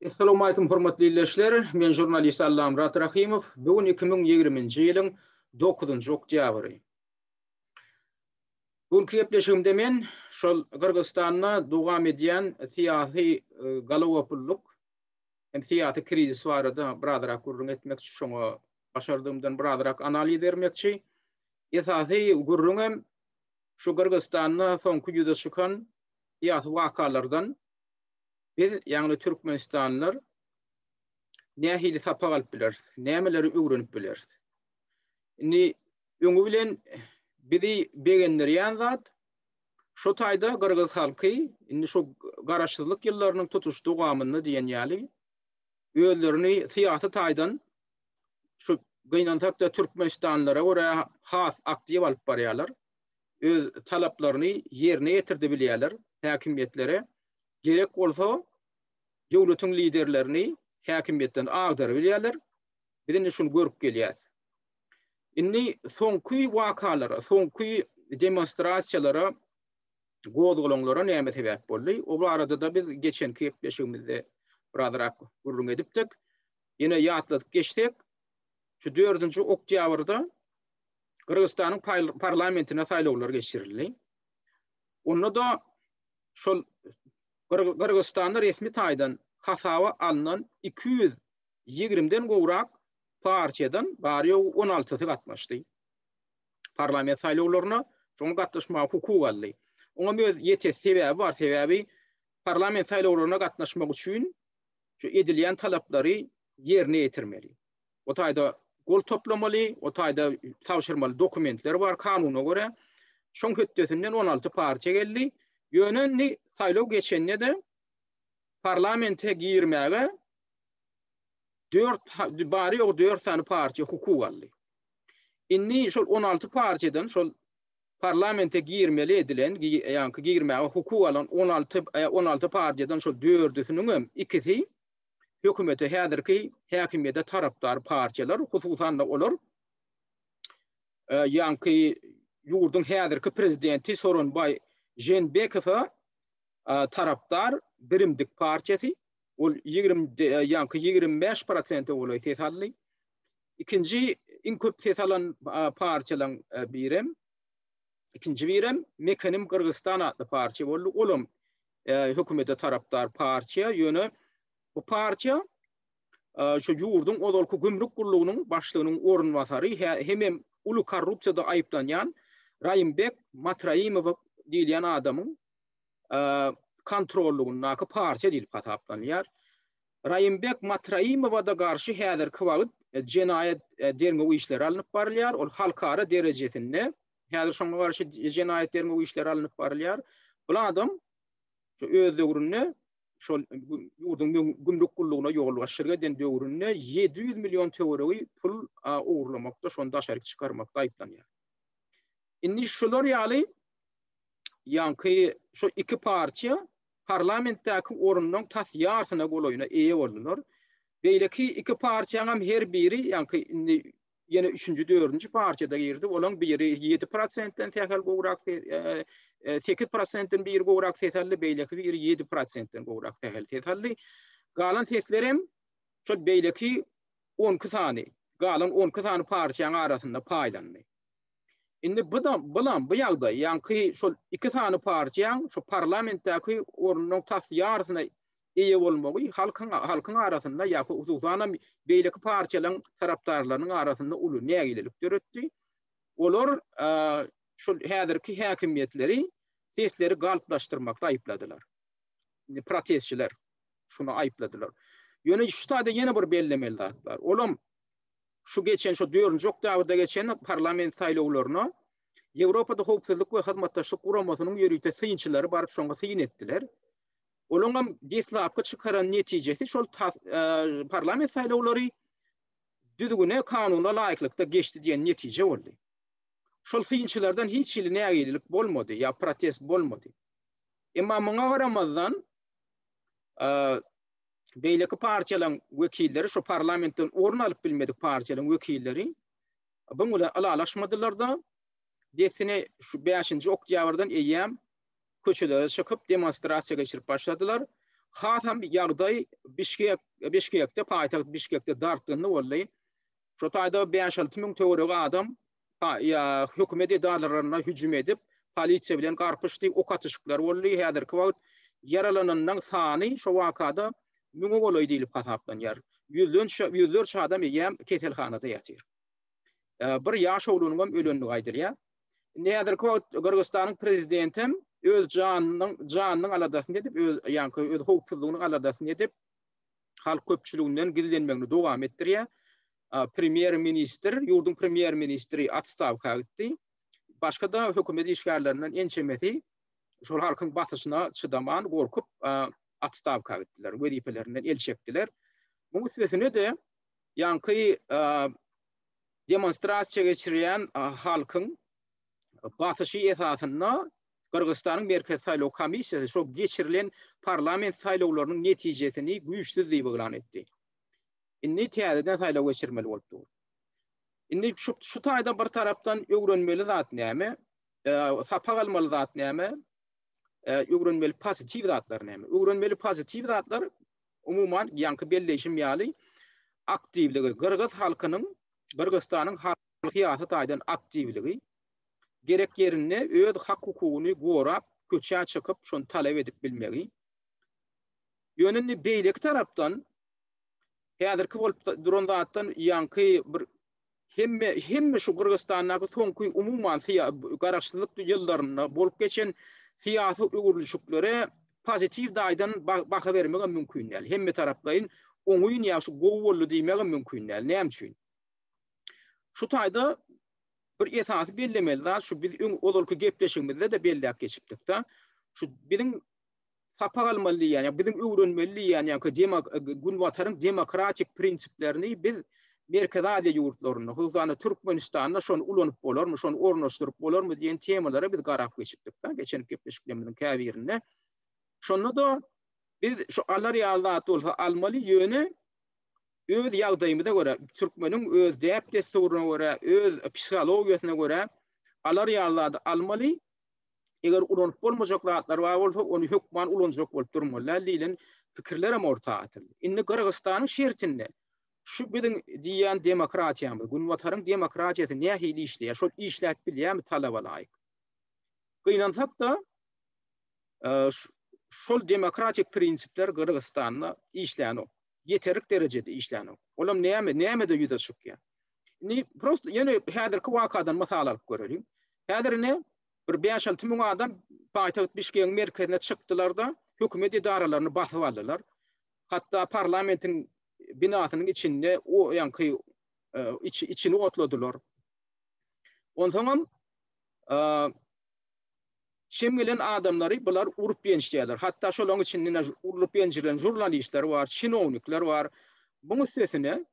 Essalowmaýkum hormatly ildeşler, men žurnalist Allamyrat Rahymow, bu gün iki müň ýigrimi nji ýylyň dokuzynjy oktýabry. Bu günki gepleşigimde men şol Gyrgyzystanda dowam edýän syýasy galagopullyk hem syýasy krizis barada birazrak gürrüň etmekçi, şoňa başardygymdan birazrak analiz bermekçi. Esasy gürrüňem şu Gyrgyzystanda soňky ýüze çykan syýasy wakalardan, Biz, ýagny türkmenistanlylar nähili sapak alyp bileris, nämeleri öwrenip bileris? Indi öňi bilen bizi begendirýän zat şu taýda gyrgyz halky indi şu garaşsyzlyk ýyllarynyň tutuş dowamynda diýen ýaly özlerini syýasy taýdan şu gynansak-da türkmenistanlylara görä has aktiw alyp barýarlar. öz talaplaryny ýerine ýetirdi bilýärler, häkimiýetlere gerek bolsa döwletiň liderlerini häkimiýetden agdary bilýärler, biz indi şuny görüp gelýäs. Indi soňky wakalara, soňky demonstrasiýalara, gozgalaňlara näme sebäp boldy? O barada-da biz geçenki gepleşigimizde birazrak gürrüň edipdik. Ýene ýatladyp geçsek, şu dördünji oktýabrda Gyrgyzystanyň parlamentine saýlawlar geçirildi. Onda-da şol Gyrgyzystanda resmi taýdan hasaba alnan 220 den gowrak partiýadan bary ýogy 16-sy gatnaşdy. Parlament saýlawlaryna şoň gatnaşmaga hukuk aldy. Oňa öz ýeterli sebäbi bar, sebäbi parlament saýlawlaryna gatnaşmak üçin şu edilýän talaplary ýerine ýetirmeli. o taýda gol toplamaly, o taýda tabşyrmaly dokumentler bar kanuna görä. Şoň hötdesinden 16 partiýa geldi. Ýöne indi saýlaw geçende-de parlamente girmäge dört bari ýogy dört sany partiýa hukuk aldy. Indi şol 16 partiýadan şol parlamente girmeli edilen, ýa-da girmäge hukuk alan 16 16 e, partiýadan şol dördüsiniň hem ikisi hökümete häzirki häkimiýete tarapdar partiýalar, hususan-da olar ýaňky ýurduň häzirki prezidenti Soronbaý Žeenbekowa tarapdar Birimdik partiýasy, ol ýaňky ýigrimi bäş prosente golaý ses aldy. Ikinji iň köp ses alan partiýalaryň birem, ikinji birem Mekenim Gyrgyzystan atly partiýa boldy. Olam hökümete tarapdar partiýa, ýöne bu partiýa şu ýurduň ozalky gümrük gullugynyň başlygynyň orunbasary hemem uly korrupsiýada aýyplanýan Raýimbek Matraimow diýilýän adamyň kontrollygyndaky partiýa diýlip hasaplanýar. Raýimbek Matraimowa-da garşy häzirki wagt jenaýat derňew işleri alnyp barylýar, ol halkara derejesinde Häzir şoňa garşy jenaýat derňew işleri alnyp barylýar. Bul adam öz döwründe şol ýurduň gümrük gullugyna ýolbaşçylyk eden döwründe 700 million töweregi pul ogurlamakda, şony daşaryk çykarmakda aýyplanýar. Indi şular ýaly ýaňky şu iki partiýa parlamentdäki orunlaryň tas ýarsyna golaýyna eýe boldular. Beýleki iki partiýanyň hem her biri ýaňky indi ýene üçünji, dördünji partiýada girdi. Olaň biri ýedi prosentden sähel gowrak sekiz prosentden biri gowrak ses aldy, beýleki biri ýedi prosentden gowrak sähel ses aldy. Galan sesler hem şol beýleki on iki sany, galan on iki sany partiýanyň arasynda paýlandy. Indi bu da bulam bu ýagdaý, ýaňky şol iki sany partiýaň şu parlamentdäki ornunyň tas ýarysyna eýe bolmagy halkyň halkyň arasynda ýa hususanam beýleki partiýalaryň tarapdarlarynyň arasynda uly nägilelik döretdi. Olar şol häzirki häkimiýetleri sesleri galplaşdyrmakda aýypladylar. Indi protestçiler şuny aýypladylar. Ýöne şu taýda ýene bir bellemeli zat bar. Olam şu geçen şu dördünji oktýabrda geçen parlament saýlawlaryna Ýewropada Howpsuzlyk we Hyzmatdaşlyk Guramasynyň ýörite synçylary baryp şoňa syn etdiler. Olaňam deslapky çykaran netijesi şol parlament saýlawlary düzgüne, kanuna laýyklykda geçdi diýen netije boldy. Şol synçylardan hiç hili nägilelik bolmady ýa protest bolmady. Emma muňa garamazdan, beýleki partiýalaryň wekilleri, şu parlamentden orun alyp bilmedik partiýalaryň wekilleri bu bilen ylalaşmadylar-da, dessine şu bäşinji oktýabrdan eýýäm köçelere çykyp, demonstrasiýa geçirip başladylar. Hasam ýagdaý Bişkek, Bişkekde, paýtagt Bişkekde dartgynly boldy. Şu taýda bäş-alty müň töweregi adam hökümet edaralaryna hüjüm edip, polisiýa bilen garpyşdy, ok atyşyklar boldy. Häzirki wagt ýaralananlaryň sany şo wakada müňe golaý diýlip hasaplanýar. Ýüzlerçe adam eýýäm keselhanada ýatyr. Bir ýaş oglunyň hem ölendigi aýdylýar. Indi häzirki wagt Gyrgyzystanyň prezidenti hem öz janynyň aladasyny edip, öz howpsuzlygynyň aladasyny edip, halk köpçüliginden gizlenmegini dowam etdirýär. Premýer-ministr, ýurduň premýer-ministri otstawka gitdi. Başga-da hökümet işgärlerinden ençemesi şol halkyň basyşyna çydaman, gorkup otstawka gitdiler, wezipelerinden el çekdiler. Muň üstesine-de ýaňky demonstrasiýa geçirýän halkyň basyşy esasynda Gyrgyzystanyň Merkezi saýlaw komissiýasy şol geçirilen parlament saýlawlarynyň netijesini güýçsüz diýip yglan etdi. Indi täzeden saýlaw geçirmeli bolup dur. Indi şu şu taýda bir tarapdan öwrenmeli zat näme? Sapak almaly zat näme? Öwrenmeli pozitiw zatlar näme? Öwrenmeli pozitiw zatlar umuman ýaňky belleýşim ýaly aktiwligi, gyrgyz halkynyň, Gyrgyzstanyň halky syýasy taýdan aktiwligi, gerek ýerinde öz hak-hukugyny gorap, köçä çykyp, şony talap edip bilmegi. Ýöne indi beýleki tarapdan häzirki bolup duran zatdan ýaňky bir hemme hemme şu Gyrgyzstandaky soňky umuman garaşsyzlyk ýyllarynda bolup geçen syýasy öwrülişiklere pozitiw daýdan baha bermegem mümkin däl. Hemme taraplaýyn oňyn ýa şu gowy boldy diýmegem mümkin däl. Näme üçin? Şu taýda bir esasy bellemeli zat şu biz öň ozalky gepleşigimizde-de belläp geçipdik-de, şu biziň sapak almaly diýýän, ýa biziň öwrenmeli diýýän, ýa-da demak, Günbataryň demokratik prinsiplerini biz Merkezi Aziýa ýurtlarynda, hususan-da Türkmenistanda şony ulanyp bolarmy, şony ornaşdyryp bolarmy diýen temalara biz garap geçipdik, geçen gepleşiklerimiziň käbirinde. Şonda-da biz şu alar ýaly zat bolsa almaly, ýöne öz ýagdaýymyza görä, türkmeniň öz däp-dessuryna görä, öz psihologiýasyna görä alar ýaly zady almaly, Eger ulanyp bolmajak zatlar bar bolsa, ony hökman ulanjak bolup durmalylar diýlen pikirlerem orta atyldy. Indi Gyrgyzystanyň şertinde şu biziň diýýän demokratiýamyz, Günbataryň demokratiýasy nähili işleýär, şol işläp bilýärmi talaba laýyk? Gynansak-da, şol demokratik prinsipler Gyrgyzystanda işlänok. Ýeterlik derejede işlänok. Olam näme, nämede ýüze çykýar? Indi prosta ýene häzirki wakadan mysal alyp göreliň. Häzir ine bir 5-6 müň adam paýtagt Bişkegiň merkezine çykdylar-da, hökümet edaralaryny basyp aldylar. Hatda parlamentiň binasynyň içinde o ýanky içini otladylar. Onsoňam şem gelen adamlary bular urup ýençýärler. Hatda şolaryň içinde urup ýenjilen žurnalistler bar, çinownikler bar. Buň üstesine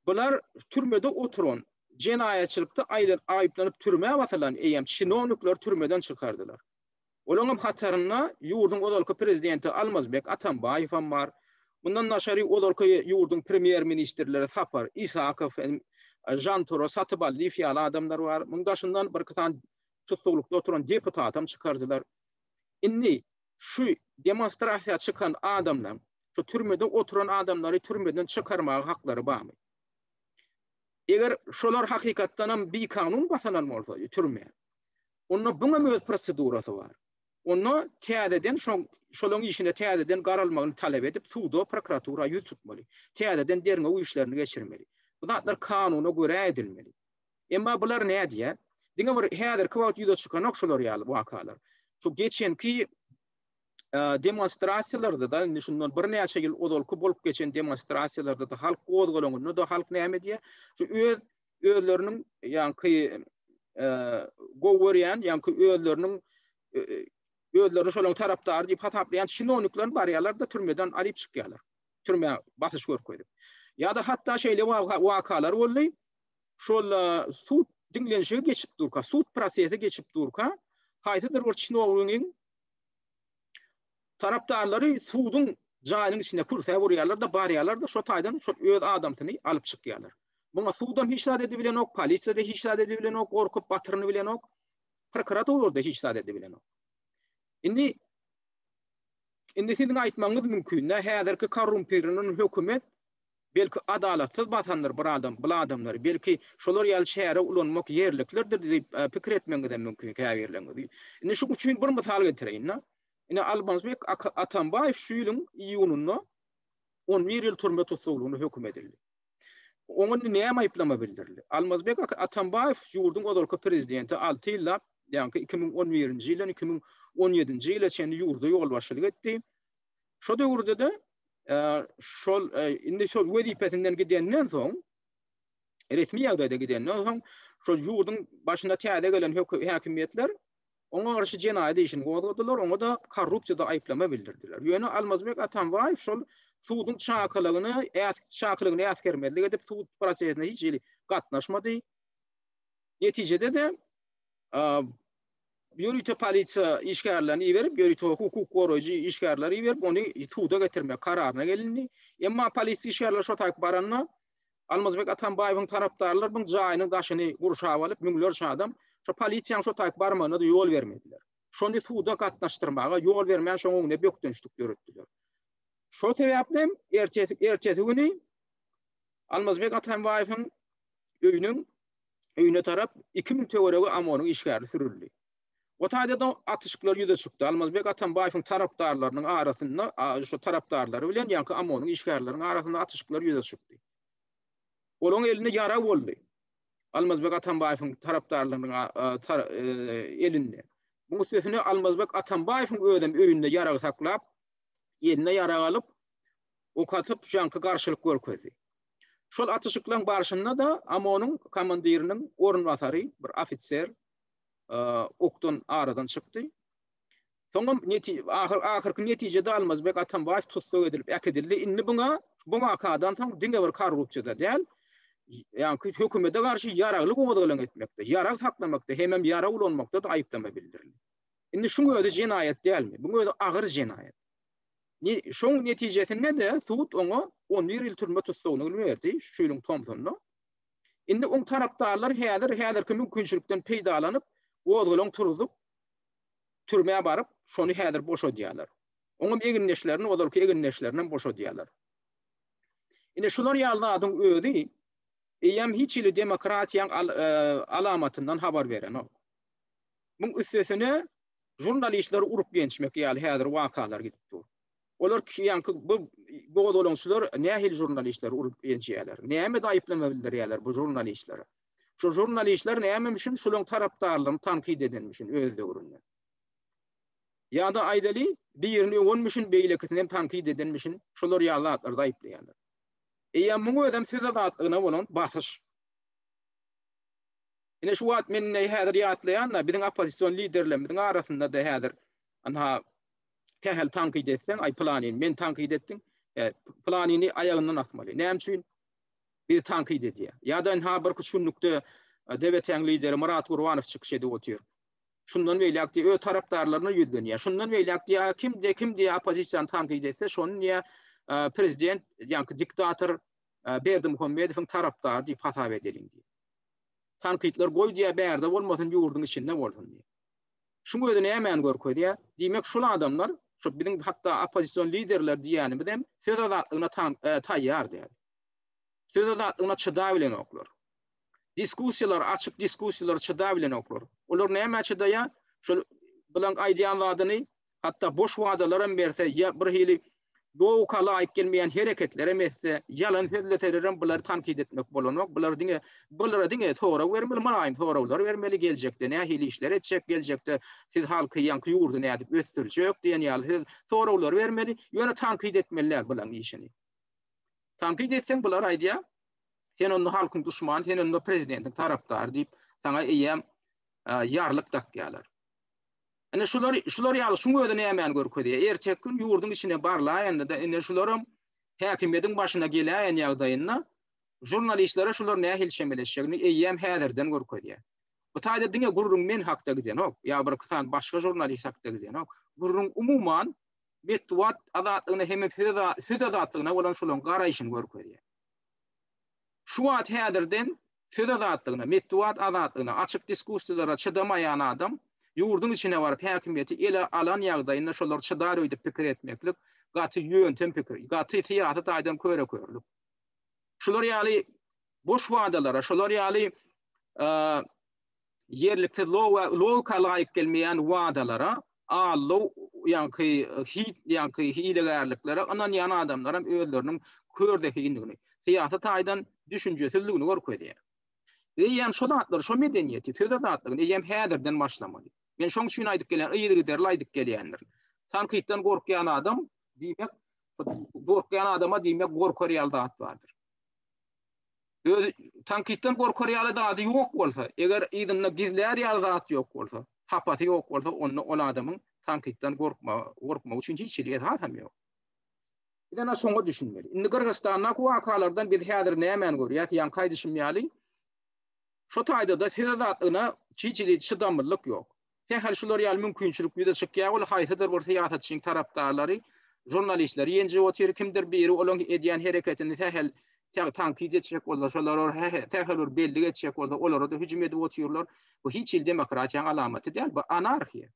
Bular türmede oturan, jenaýatçylykda aýyplanyp türmä basylan eýýäm çinownikleri türmeden çykardylar. Olaryň hatarynda ýurduň ozalky prezidenti Almazbek Atambaýew hem bar. Mundan daşary ozalky ýurduň premýer-ministrleri Sapar Isakow, Žanturo Satybaldiýew ýaly adamlar bar. Munuň daşyndan birki sany tutuklykda oturan deputatam çykardylar. Indi şu demonstrasiýa çykan adamlaň şu türmede oturan adamlary türmeden çykarmaga haklary barmy? Eger şolar hakykatdanam bikanun basylan bolsa türme onda buňam öz prosedurasy bar. Onda täzeden şo şolaň işine täzeden garalmagyny talap edip suda prokuratura ýüz tutmaly. Täzeden derňew işlerini geçirmeli. Bu zatlar kanuna görä edilmeli. Emma bular nädýär? Diňe bir häzirki wagt ýüze çykanok şular ýaly wakalar. Şu geçenki demonstrasiýalarda-da, indi şundan birnäçe ýyl ozalky bolup geçen demonstrasiýalarda-da halk gozgalanyna-da halk näme diýýär? Şu öz özleriniň ýaňky gowy görýän, ýaňky özleriniň özlerini şolaryň tarapdary diýip hasaplaýan çinownikler barýarlar-da türmeden alyp çykýarlar. Türmä basyş görkezip. Ýa-da hatda şeýle wakalar boldy. şol sud diňlenişigi geçip durka, sud prosesi geçip durka, haýsydyr bir çinownigiň tarapdarlary suduň jaýynyň içine kürsä urýarlar-da, barýarlar-da, şo taýdan şol öz adamsyny alyp çykýarlar. Muňa sudam hiç zat edibilenok, polisiýa-da hiç zat edibilenok, gorkup batyryny bilenok, prokuratura-da hiç zat edibilenok. Indi indi siziň aýtmagyňyz mümkin, nä häzirki korrumpirlenen hökümet Belki adalatsyz basandyr bir adam bul adamlary, belki şolar ýaly çäre ulanmak ýerliklidir diýip pikir etmegiňizem mümkin käbirleriňiz. Indi şuň üçin bir mysal getireýin-de. Indi Almazbek Atambaýew şu ýylyň iýunynda on bir ýyl türme tussaglygyna höküm edildi. Oňa indi näme aýyplama bildirildi? Almazbek Atambaýew ýurduň ozalky prezidenti alty ýyllap, ýagny iki müň on birinji ýyldan iki müň on ýedinji ýyla çenli ýurda ýolbaşçylyk etdi. Şo döwürde-de şol indi şol wezipesinden gidenden soň resmi ýagdaýda gidenden soň şol ýurduň başyna täze gelen häkimiýetler oňa garşy jenaýat işini gozgadylar, oňa da korrupsiýada aýyplama bildirdiler. Ýöne Almazbek Atambaýew şol suduň çakylygyny, çakylygyny äsgermezlik edip, sud prosesine hiç hili gatnaşmady. Netijede-de ýörite polisiýa işgärlerini iberip, ýörite hukuk goraýjy işgärleri iberip, ony suda getirmek kararyna gelindi. Emma polisiýa işgärleri şo taýyp baranda, Almazbek Atambaýewiň tarapdarlary bu jaýynyň daşyny gurşap alyp, müňlerçe adam şo polisiýanyň şo taýyp barmagyna-da ýol bermediler. Şony suda gatnaşdyrmaga ýol bermän, şoň öňünde bökdençlik döretdiler. Şo sebäpli hem ertesi güni Almazbek Atambaýewiň öýüniň öýüne tarap iki müň töweregi OMON-yň işgäri sürüldi. O taýda-da atyşyklar ýüze çykdy. Almazbek Atambaýewiň tarapdarlarynyň arasynda, şo tarapdarlary bilen ýaňky OMON-yň işgärleriniň arasynda atyşyklar ýüze çykdy. Olaryň elinde ýara boldy. Almazbek Atambaýewiň tarapdarlarynyň elinde. Muň üstesine Almazbek Atambaýewiň özem öýünde ýarag saklap, eline ýarag alyp, ok atyp, ýaňky garşylyk görkezdi. Şol atyşyklaryň barşynda-da OMON-yň komandiriniň orunbasary, bir ofiser okdan aradan çykdy. Soňam ahyrky netijede Almazbek Atambaýew tussag edilip äkidildi. Indi buňa bu wakadan soň diňe bir korrupsiýada däl, ýa-da hökümete garşy ýaragly gozgalaň etmekde, ýarag saklamakda hemem ýarag ulanmakda-da aýyplama bildirildi. Indi şuň özi jenaýat dälmi? Buň özi agyr jenaýat. Şoň netijesinde-de sud oňa on bir ýyl türme tussagyny berdi, şu ýylyň tomsunda. Indi oň tarapdarlary häzir häzirki mümkinçilikden peýdalanyp, gozgalaň turzup, türmä baryp, şony häzir boşadýarlar. Oňam egindeşlerini, ozalky egindeşlerinem boşadýarlar. Ine, şular ýaly zadyň özi eýýäm hiç hili demokratiýaň alamatyndan habar berenok. Muň üstesine, Žurnalistleri urup-ýençmek ýaly häzir wakalar gidip dur. Olar ýaňky bu gozgalaňçylar nähili žurnalistleri urup-ýençýärler? Nämede aýyplama bildirýärler bu žurnalistlere? Şu žurnalistler näme üçin şulaň tarapdarlaryny tankyt edenmi üçin öz döwründe? Ýa-da aýdaly, birini öwenmi üçin beýlekisini hem tankyt edenmi üçin şular ýaly zatlarda aýyplaýarlar? Eýýäm muň özem söz azatlygyna bolan basyş. Ine şu wagt men indi häzir ýatlaýan-da, biziň oppozision liderlerimiziň arasynda-da häzir ynha, sähel tankyt etseň, aý pylanyny meni tankyt etdiň, e, pylanyny aýagyndan asmaly. Näme üçin bizi tankyt edýär? Ýa-da ynha birki üç günlükde DBT-iň lideri Myrat Gurbanow çykyş edip otyr. Şundan beýläk diýýär, öz tarapdarlaryna ýüzlenýär. Şundan beýläk diýýär, kim diýýär, kim diýýär oppozisiýany tankyt etse, şony diýýär, e, prezident, ýaňky diktator e, Berdimuhamedowyň tarapdary diýip hasap edeliň diýýär. Tankytlar goý diýýär bärde bolmasyn ýurduň içinde bolsun diýýär. Şuň özi nämäni görkezýär? Diýmek şul adamlar şu biziň hatda oppozision liderler diýýänimizem söz azatlygyna taýýar däl. Söz azatlygyna çydap bilenoklar. Diskussiýalar açyk diskussiýalar çydap bilenoklar. Olar nämä çydaýar? Şul bilen aýdýan zadyny hatda boş wadalaram berse ýa birhili dowuka laýyk gelmeýän hereketlerem etse, ýalan sözleselerem bulary tankyt etmek bolanok, bular diňe bulara diňe sorag bermeli, mylaýym soraglar bermeli, geljekde nähili işler etjek, geljekde siz halky ýaňky ýurdy nädip ösdürjek diýen ýaly siz soraglar bermeli, ýöne tankyt etmeli däl bulaň işini. Tankyt etseň bular aýdýar, sen onda halkyň duşmany, sen onda prezidentiň tarapdary diýip saňa eýýäm ýarlyk dakýarlar. Ine şular, şular ýaly şuň özi nämäni görkezýär? Erteki gün ýurduň içine barlaýanda-da ine şularam häkimiýetiň başyna geläýen ýagdaýynda žurnalistlere şular nähili çemeleşjegini eýýäm häzirden görkezýär. Bu taýda diňe gürrüň men hakda gidenok, ýa bir iki sany başga žurnalist hakda gidenok. Gürrüň umuman metbugat azatlygyna hem-ä söz azatlygyna bolan şularyň garaýşyny görkezýär. Şu wagt häzirden söz azatlygyna, metbugat azatlygyna, açyk diskussiýalara çydamaýan adam ýurduň içine baryp häkimiýeti ele alan ýagdaýynda şolar çydar öýdüp pikir etmeklik gaty ýöntem pikir, gaty syýasy taýdan köre-körlük. Şular ýaly boş wadalara, şular ýaly ýerliksiz logika laýyk gelmeýän wadalara, aldaw ýaňky hit ýaňky hilegärliklere ynanýan adamlaram özleriniň kör zehindigini, syýasy taýdan düşünjesizdigini görkezýär. Eýýäm şo zatlary, şo medeniýeti, söz azatlygyny eýýäm häzirden başlamaly. Men şoň üçin aýdyp gelýän, yzygiderli aýdyp gelýändir. Tankytdan gorkýan adam diýmek, gorkýan adama diýmek gorkar ýaly zat bardyr. Özi tankitden gorkar ýaly zady ýok bolsa, eger yzynda gizlär ýaly zat ýok bolsa, hapasy ýok bolsa, onda ol adamyň tankitden gorkmagy üçin hiç hili esasam ýok. Biz ene şoňa düşünmeli. Indi Gyrgyzystandaky wakalardan biz häzir nämäni görýäs? Ýaňky aýdyşym ýaly, şu taýda-da söz azatlygyna hiç hili çydamlylyk ýok. Sähel şular ýaly mümkinçilik ýüze çykýar, ol haýsydyr bir syýasatçynyň tarapdarlary žurnalistleri ýenjip otyr, kimdir biri olaň edýän hereketini sähel tankyt etjek bolsa, şolar sähel bir bellik etjek bolsa, olara-da hüjüm edip otyrlar. Bu hiç hili demokratiýanyň alamaty däl, bu anarhiýa.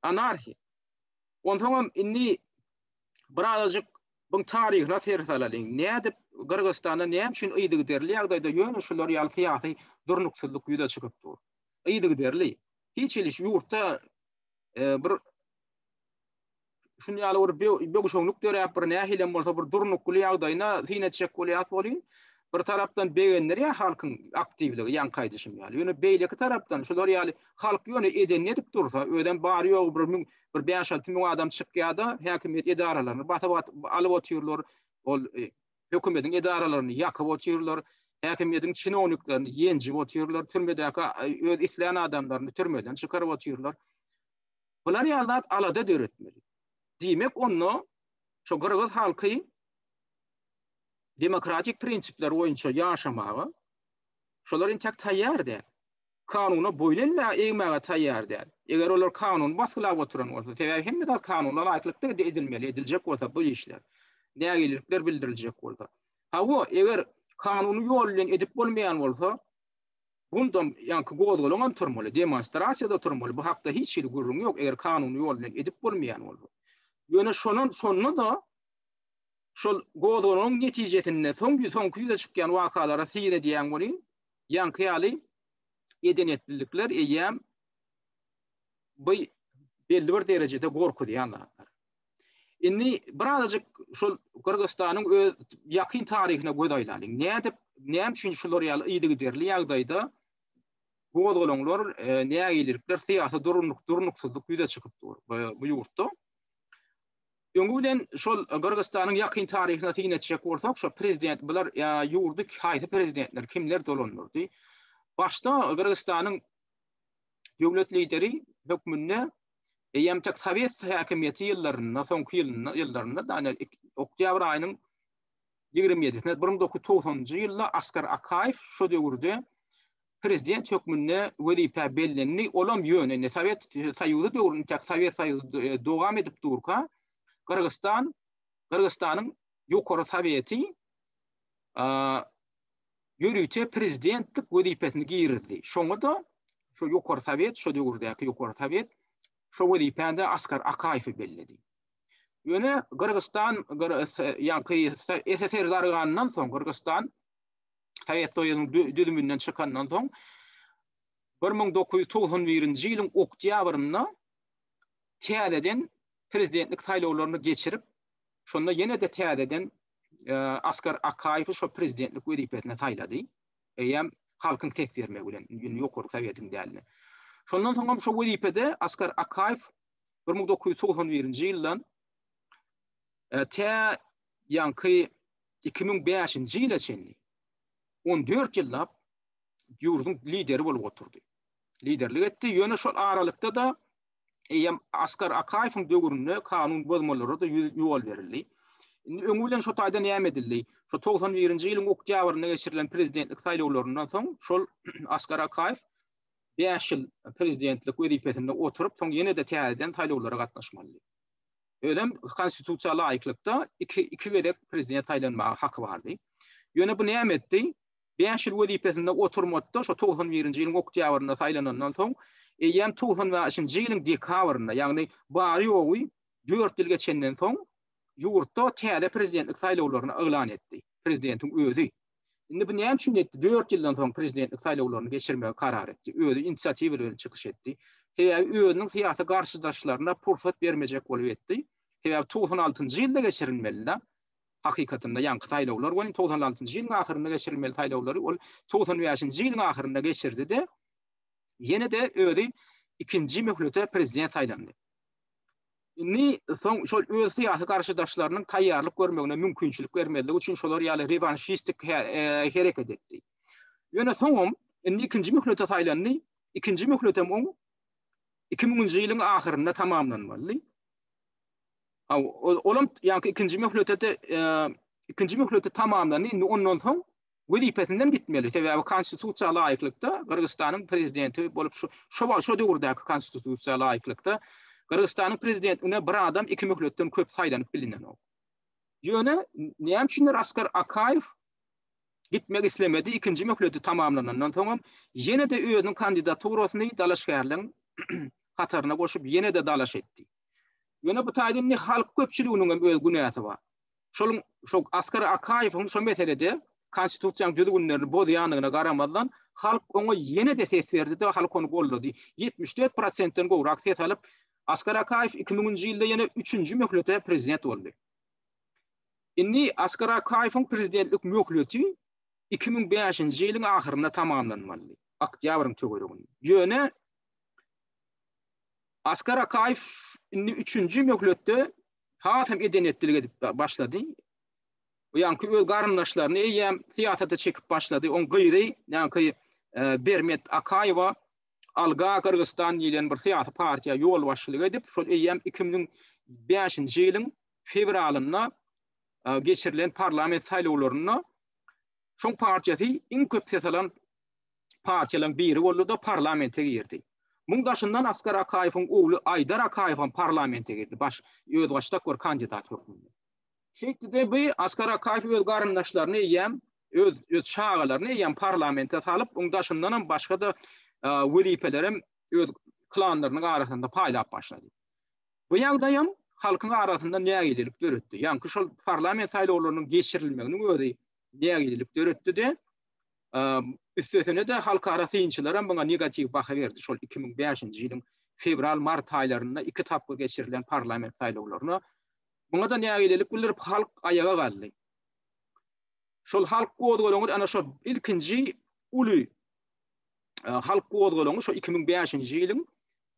Anarhiýa. Onsoňam indi birazajyk buň taryhyna ser salalyň. Nädip Gyrgyzystanda näme üçin yzygiderli ýagdaýda ýöne şular ýaly syýasy durnuksyzlyk ýüze çykyp dur? yzygiderli hiç hili şu ýurtda bir şun ýaly bir bögüşeňlik döräp bir nähilem bolsa bir durnukly ýagdaýyna syn etjek bolýas bolýyn. Bir tarapdan begendirýär halkyň aktiwligi ýaňky aýdyşym ýaly. Ýöne beýleki tarapdan şular ýaly halk ýöne edenini edip dursa, özem bary ýogy bir müň, bir bäş-alty müň adam çykýar-da, häkimiýet edaralaryny basyp alyp otyrlar. Ol hökümediň edaralaryny ýakyp otyrlar, häkimiýediň çinowniklerini ýenjip otyrlar, türmedäki öz islän adamlaryny türmeden çykaryp otyrlar. Bular ýaly zat alada döretmeli. Diýmek onda şu gyrgyz halky demokratik prinsipler boýunça ýaşamaga şolar entek taýýar däl. kanuna boýun elmäge, egmäge taýýar däl. Eger olar kanuny basgylap oturan bolsa, sebäbi hemme zat kanuna laýyklykda edilmeli, ediljek bolsa bu işler, nägilelikler bildiriljek bolsa. Hawa, eger kanuny ýol bilen edip bolmaýan bolsa, bundam ýaňky gozgalaňam turmaly, demonstrasiýada turmaly, bu hakda hiç hili gürrüň ýok, eger kanuny ýol bilen edip bolmaýan bolsa. Ýöne şonam, şonda-da şol gozgalaňyň netijesinde soň, soňky ýüze çykýan wakalara syn edýän welin, Ýaňky ýaly edenetlilikler eýýäm bu belli bir derejede gorkuzýan zatlar. Indi birazajyk şol Gyrgyzystanyň öz ýakyn taryhyna göz aýlalyň. Nädip, näme üçin şular ýaly yzygiderli ýagdaýda bu gozgalaňlar, e, nägilelikler, syýasy durunlyk, durnuksyzlyk ýüze çykyp dur e, bu ýurtda? Öňi bilen şol Gyrgyzystanyň ýakyn taryhyna syn etjek bolsak, şo prezident bular ýa ýurdy haýsy prezidentler, kimler dolandyrdy? Başda Gyrgyzystanyň döwlet lideri hökmünde eýýäm tek sowet häkimiýeti ýyllarynda, soňky ýylynda, ýyllarynda da ýani oktýabr aýynyň 27-sinde 1990-njy ýylda Askar Akaýew şo döwürde prezident hökmünde wezipä bellendi, olam ýöne indi Sowet Soýuzy döwründe tek Sowet Soýuzy dowam edip durka, Gyrgyzstan, Gyrgyzstanyň Ýokary Soweti ýörite prezidentlik wezipesini girizdi. Şoňa-da şu Ýokary Sowet, şu döwürdäki Ýokary Sowet şu wezipäni Askar Akaýewi belledi. Ýöne Gyrgyzstan, ýaňky SSR darganyndan soň Gyrgyzstan Sowet Soýuzynyň düzüminden çykandan soň bir müň dokuz ýüz togsan birinji ýylyň oktýabrynda täzeden prezidentlik saýlawlaryny geçirip, şonda ýene-de täzeden e, Askar Akaýewi şo prezidentlik wezipesine saýlady. Eýýäm halkyň ses bermegi bilen, indi ýokarky sowetiň dälini. Şondan soň hem şo wezipede Askar Akaýew 1991-nji ýyldan e, tä ýanky iki müň bäşinji ýyla çenli on dört ýyllap ýurduň lideri bolup oturdy. Liderlik etdi. Ýöne şol aralykda-da eýýäm Askar Akaýewiň döwründe kanun bozmalara-da ýol berildi. Indi öňi bilen şo taýda näme edildi? Şo togsan birinji ýylyň oktýabrynda geçirilen prezidentlik saýlawlaryndan soň şol Askar Akaýew bäş ýyl prezidentlik wezipesinde oturyp, soň ýene-de täzeden saýlawlara gatnaşmalydy. Özem konstitusiýa laýyklykda iki iki gezek prezident saýlanmaga haky bardy. Ýöne bu näme etdi? Bäş ýyl wezipesinde oturmady-da, şo togsan birinji ýylyň oktýabrynda saýlanandan soň, eýýäm togsan bäşinji ýylyň dekabrynda, ýagny bary-ýogy dört ýyl geçenden soň ýurtda täze prezidentlik saýlawlaryny yglan etdi, prezidentiň özi. Indi bu näme üçin etdi? Dört ýyldan soň prezidentlik saýlawlaryny geçirmegi karar etdi. Özi inisiatiwa bilen çykyş etdi. Sebäbi özüniň syýasy garşydaşlaryna pursat bermejek bolup etdi. Sebäbi togsan altynjy ýylda geçirilmeli-de hakykatynda ýaňky saýlawlar welin togsan altynjy ýylyň ahyrynda geçirilmeli saýlawlary ol togsan bäşinji ýylyň ahyrynda geçirdi-de ýene-de özi ikinji möhlete prezident saýlandy. Indi soň şol öz syýasy garşydaşlarynyň taýýarlyk görmegine mümkinçilik bermezlik üçin şolar ýaly rewanşistik hereket etdi. Ýöne soňam indi ikinji möhlete saýlandy. Ikinji möhletem oň iki müňünji ýylyň ahyrynda tamamlanmalydy. Olam ýaňky ikinji möhlete-de ikinji möhleti tamamlandy. Indi ondan soň wezipesinden gitmeli, sebäbi konstitusiýa laýyklykda Gyrgyzystanyň prezidenti bolup şu şu wagt şu döwürdäki konstitusiýa laýyklykda Gyrgyzystanyň prezidentligine bir adam iki möhletden köp saýlanyp bilinenok. Ýöne näme üçindir Askar Akaýew gitmek islemedi, ikinji möhleti tamamlanandan soňam ýene-de özüniň kandidaturasyny dalaşgärleň hataryna goşup ýene-de dalaş etdi. Ýöne bu taýdan indi halk köpçüliginiňem öz günäsi bar. Şol şu Askar Akaýewiň şu meselede Konstitusiýanyň düzgünlerini bozýandygyna garamazdan, halk oňa ýene-de ses berdi-de, halk ony goldady. Ýetmiş dört prosentden gowrak ses alyp, Askar Akaýew iki müňünji ýylda ýene üçünji möhlete prezident boldy. Indi Askar Akaýewiň prezidentlik möhleti iki müň bäşinji ýylyň ahyrynda tamamlanmalydy, oktýabryň töwereginde. Ýöne Askar Akaýew indi üçünji möhletde has hem eden-etdilik edip başlady. Ýaňky öz garyndaşlaryny eýýäm syýasata çekip başlady. Oň gyzy, ýaňky e, Bermet Akaýewa Alga Gyrgyzstan diýlen bir syýasy partiýa ýolbaşçylyk edip, şol eýýäm 2005-nji ýylyň fewralynda e, geçirilen parlament saýlawlarynda şoň partiýasy iň köp ses alan partiýalaryň biri boldy-da, parlamente girdi. Muň daşyndan Askar Akaýewiň ogly Aýdar Akaýew hem parlamente girdi, baş, özbaşdak bir kandidat hökmünde. Şeýtdi-de, bi Askar Akaýew öz garyndaşlaryny eýýäm, öz, öz çagalaryny eýýäm parlamente salyp, oň daşyndan hem başga-da wezipeleri hem öz klanlarynyň arasynda paýlap başlady. Bu ýagdaý hem halkyň arasynda nägilelik döretdi. Ýaňky şol parlament saýlawlarynyň geçirilmeginiň özi nägilelik döretdi-de, Üstesine-de, halkara synçylaram muňa negatiw baha berdi. Şol iki müň bäşinji ýylyň fewral-mart aýlarynda iki tapgyr geçirilen parlament saýlawlaryna. Muňa-da nägilelik bildirip, halk aýaga galdy. Şol halk gozgalaňy ana şo ilkinji uly halk gozgalaňy şo iki müň bäşinji ýylyň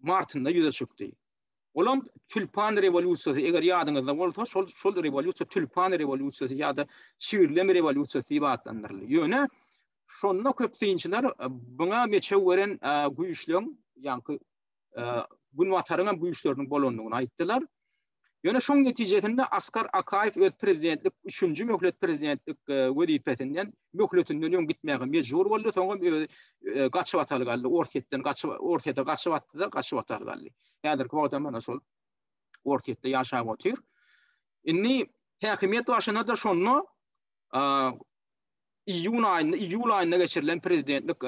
martynda ýüze çykdy. Olam Tülpan rewolýusiýasy, eger ýadyňyzda bolsa, şol şol rewolýusiýa Tülpan rewolýusiýasy ýa-da Çigirlem rewolýusiýasy diýip atlandyryldy. Ýöne şonda köp synçylar buňa meçew beren güýçleň, ýaňky Günbataryň hem güýçleriniň bolandygyny aýtdylar. Ýöne şoň netijesinde Askar Akaýew öz prezidentlik, üçünji möhlet prezidentlik e, wezipesinden, möhletinden öň gitmäge mejbur boldy. Soňam öz gaçyp ataly galdy. Orsýetden gaçyp, Orsýete gaçyp atdy-da, gaçyp ataly galdy. Häzirki wagtam mana şol Orsýetde ýaşap otyr. Indi häkimiýet başyna-da şonda iýun aýynda, iýul aýynda geçirilen prezidentlik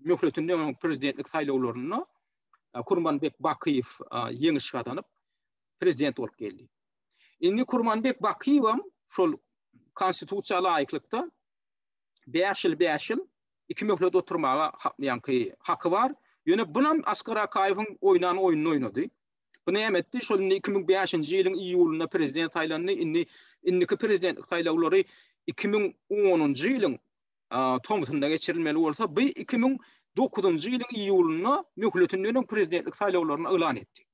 möhletinden öň prezidentlik saýlawlarynda Kurmanbek Bakyýew ýeňiş gazanyp, prezident bolup geldi. Indi Kurmanbek Bakyýew hem şol konstitusiýa laýyklykda bäş ýyl, bäş ýyl iki möhlet oturmaga ýaňky haky bar. Ýöne bunam Asgar Akaýewiň oýnan oýnuny oýnady. Bu näme etdi? Şol indi iki müň bäşinji ýylyň iýulynda prezident saýlandy. Indi indiki prezidentlik saýlawlary iki müň onunjy ýylyň tomsunda geçirilmeli bolsa, bu iki müň dokuzynjy ýylyň iýulynda möhletinden öň prezidentlik saýlawlaryny yglan etdi.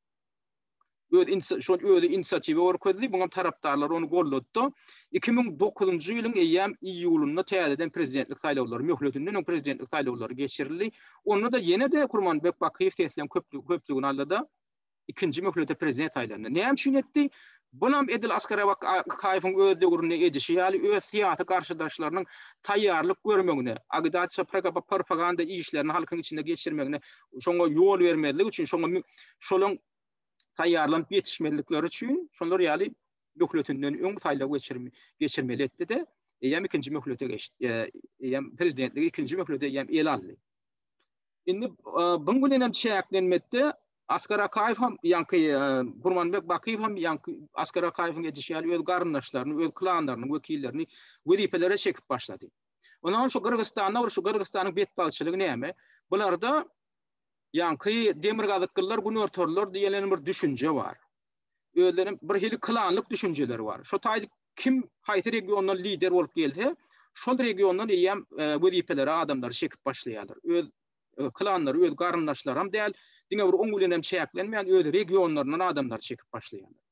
öz inisi şol özi inisiatiwa görkezdi, muňam tarapdarlary ony golladda. Iki müň dokuzynjy ýylyň eýýäm iýulynda täzeden prezidentlik saýlawlary, möhletinden öň prezidentlik saýlawlary geçirildi. Onda-da ýene-de Kurmanbek Bakyýew sesleň köplügini aldy-da, ikinji möhlete prezident saýlandy. Näme üçin etdi? Bunam edil Askar Abak Akaýewiň öz döwründe edişi ýaly, öz syýasy garşydaşlarynyň taýýarlyk görmegine, agitasiýa-propaganda işlerini halkyň içinde geçirmegine şoňa ýol bermezlik üçin, şoňa şolaryň taýýarlanyp ýetişmezlikleri üçin şolar ýaly möhletinden öň saýlaw geçirme geçirmeli etdi-de, eýýäm ikinji möhlete geçdi. E, eýýäm prezidentligi ikinji möhlete eýýäm el aldy. Indi e, buň bilen hem çäklenmekde Askar Akaýew hem ýanky e, Gurmanbek Bakyýew hem ýanky Askar Akaýewiň edişi ýaly öz garyndaşlaryny, öz klanlarynyň wekillerini wezipelere çekip başlady. Onam şu Gyrgyzstanda ol şu Gyrgyzstanyň betbagtçylygy näme? Bularda ýaňky demirgazyklylar günortalylar diýlen bir düşünje bar. Özleriniň bir hili klanlyk düşünjeleri bar. Şo taýda kim haýsy regiondan lider bolup gelse, şol regiondan eýýäm e, wezipeleri adamlary çekip başlaýarlar. Öz e, klanlary, öz garyndaşlary hem däl, diňe bir oň bilen hem çäklenmeýän öz regionlaryndan adamlary çekip başlaýarlar.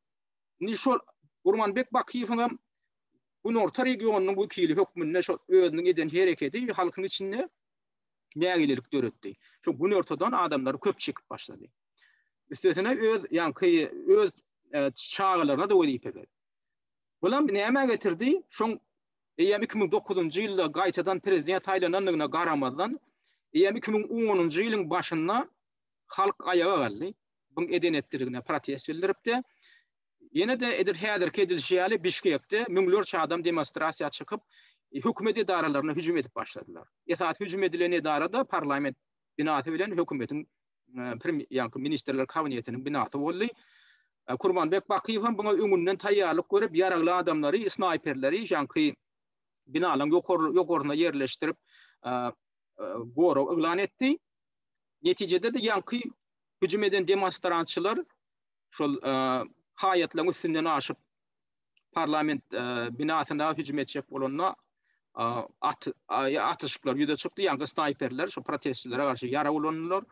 Indi şol Gurmanbek Bakyýewiň hem günorta regionynyň wekili hökmünde şo özüniň eden hereketi halkyň içinde nägilelik döretdi. Şo günortadan adamlar köp çekip başlady. Üstesine öz ýaňky öz e, çagalaryna da wezipe berdi. Bulam näme getirdi? Şoň eýýäm 2009-njy ýylda gaýtadan prezident saýlanandygyna garamazdan, eýýäm 2010-njy ýylyň başynda halk aýaga galdy. Buň eden etdirigine protest bildiripdi. Ýene-de edil häzirki edilişi ýaly Bişkekde müňlerçe adam demonstrasiýa çykyp, hökümet edaralaryna hüjüm edip başladylar. Esasy hüjüm edilen edara-da parlament binasy bilen hökümetiň ýa-da ministrler kabinetiniň binasy boldy. Kurmanbek Bakyýew hem muňa öňünden taýýarlyk görüp, ýaragly adamlary, snaýperleri ýaňky binalaryň ýokaryna ýerleşdirip, gorag yglan etdi. Netijede-de ýaňky hüjüm eden demonstrantçylar şol haýatlaryň üstünden aşyp parlament binasyna hüjüm etjek bolanda at atyşyklar ýüze çykdy ýa-da snayperler şu protestçilere garşy ýarag ulandylar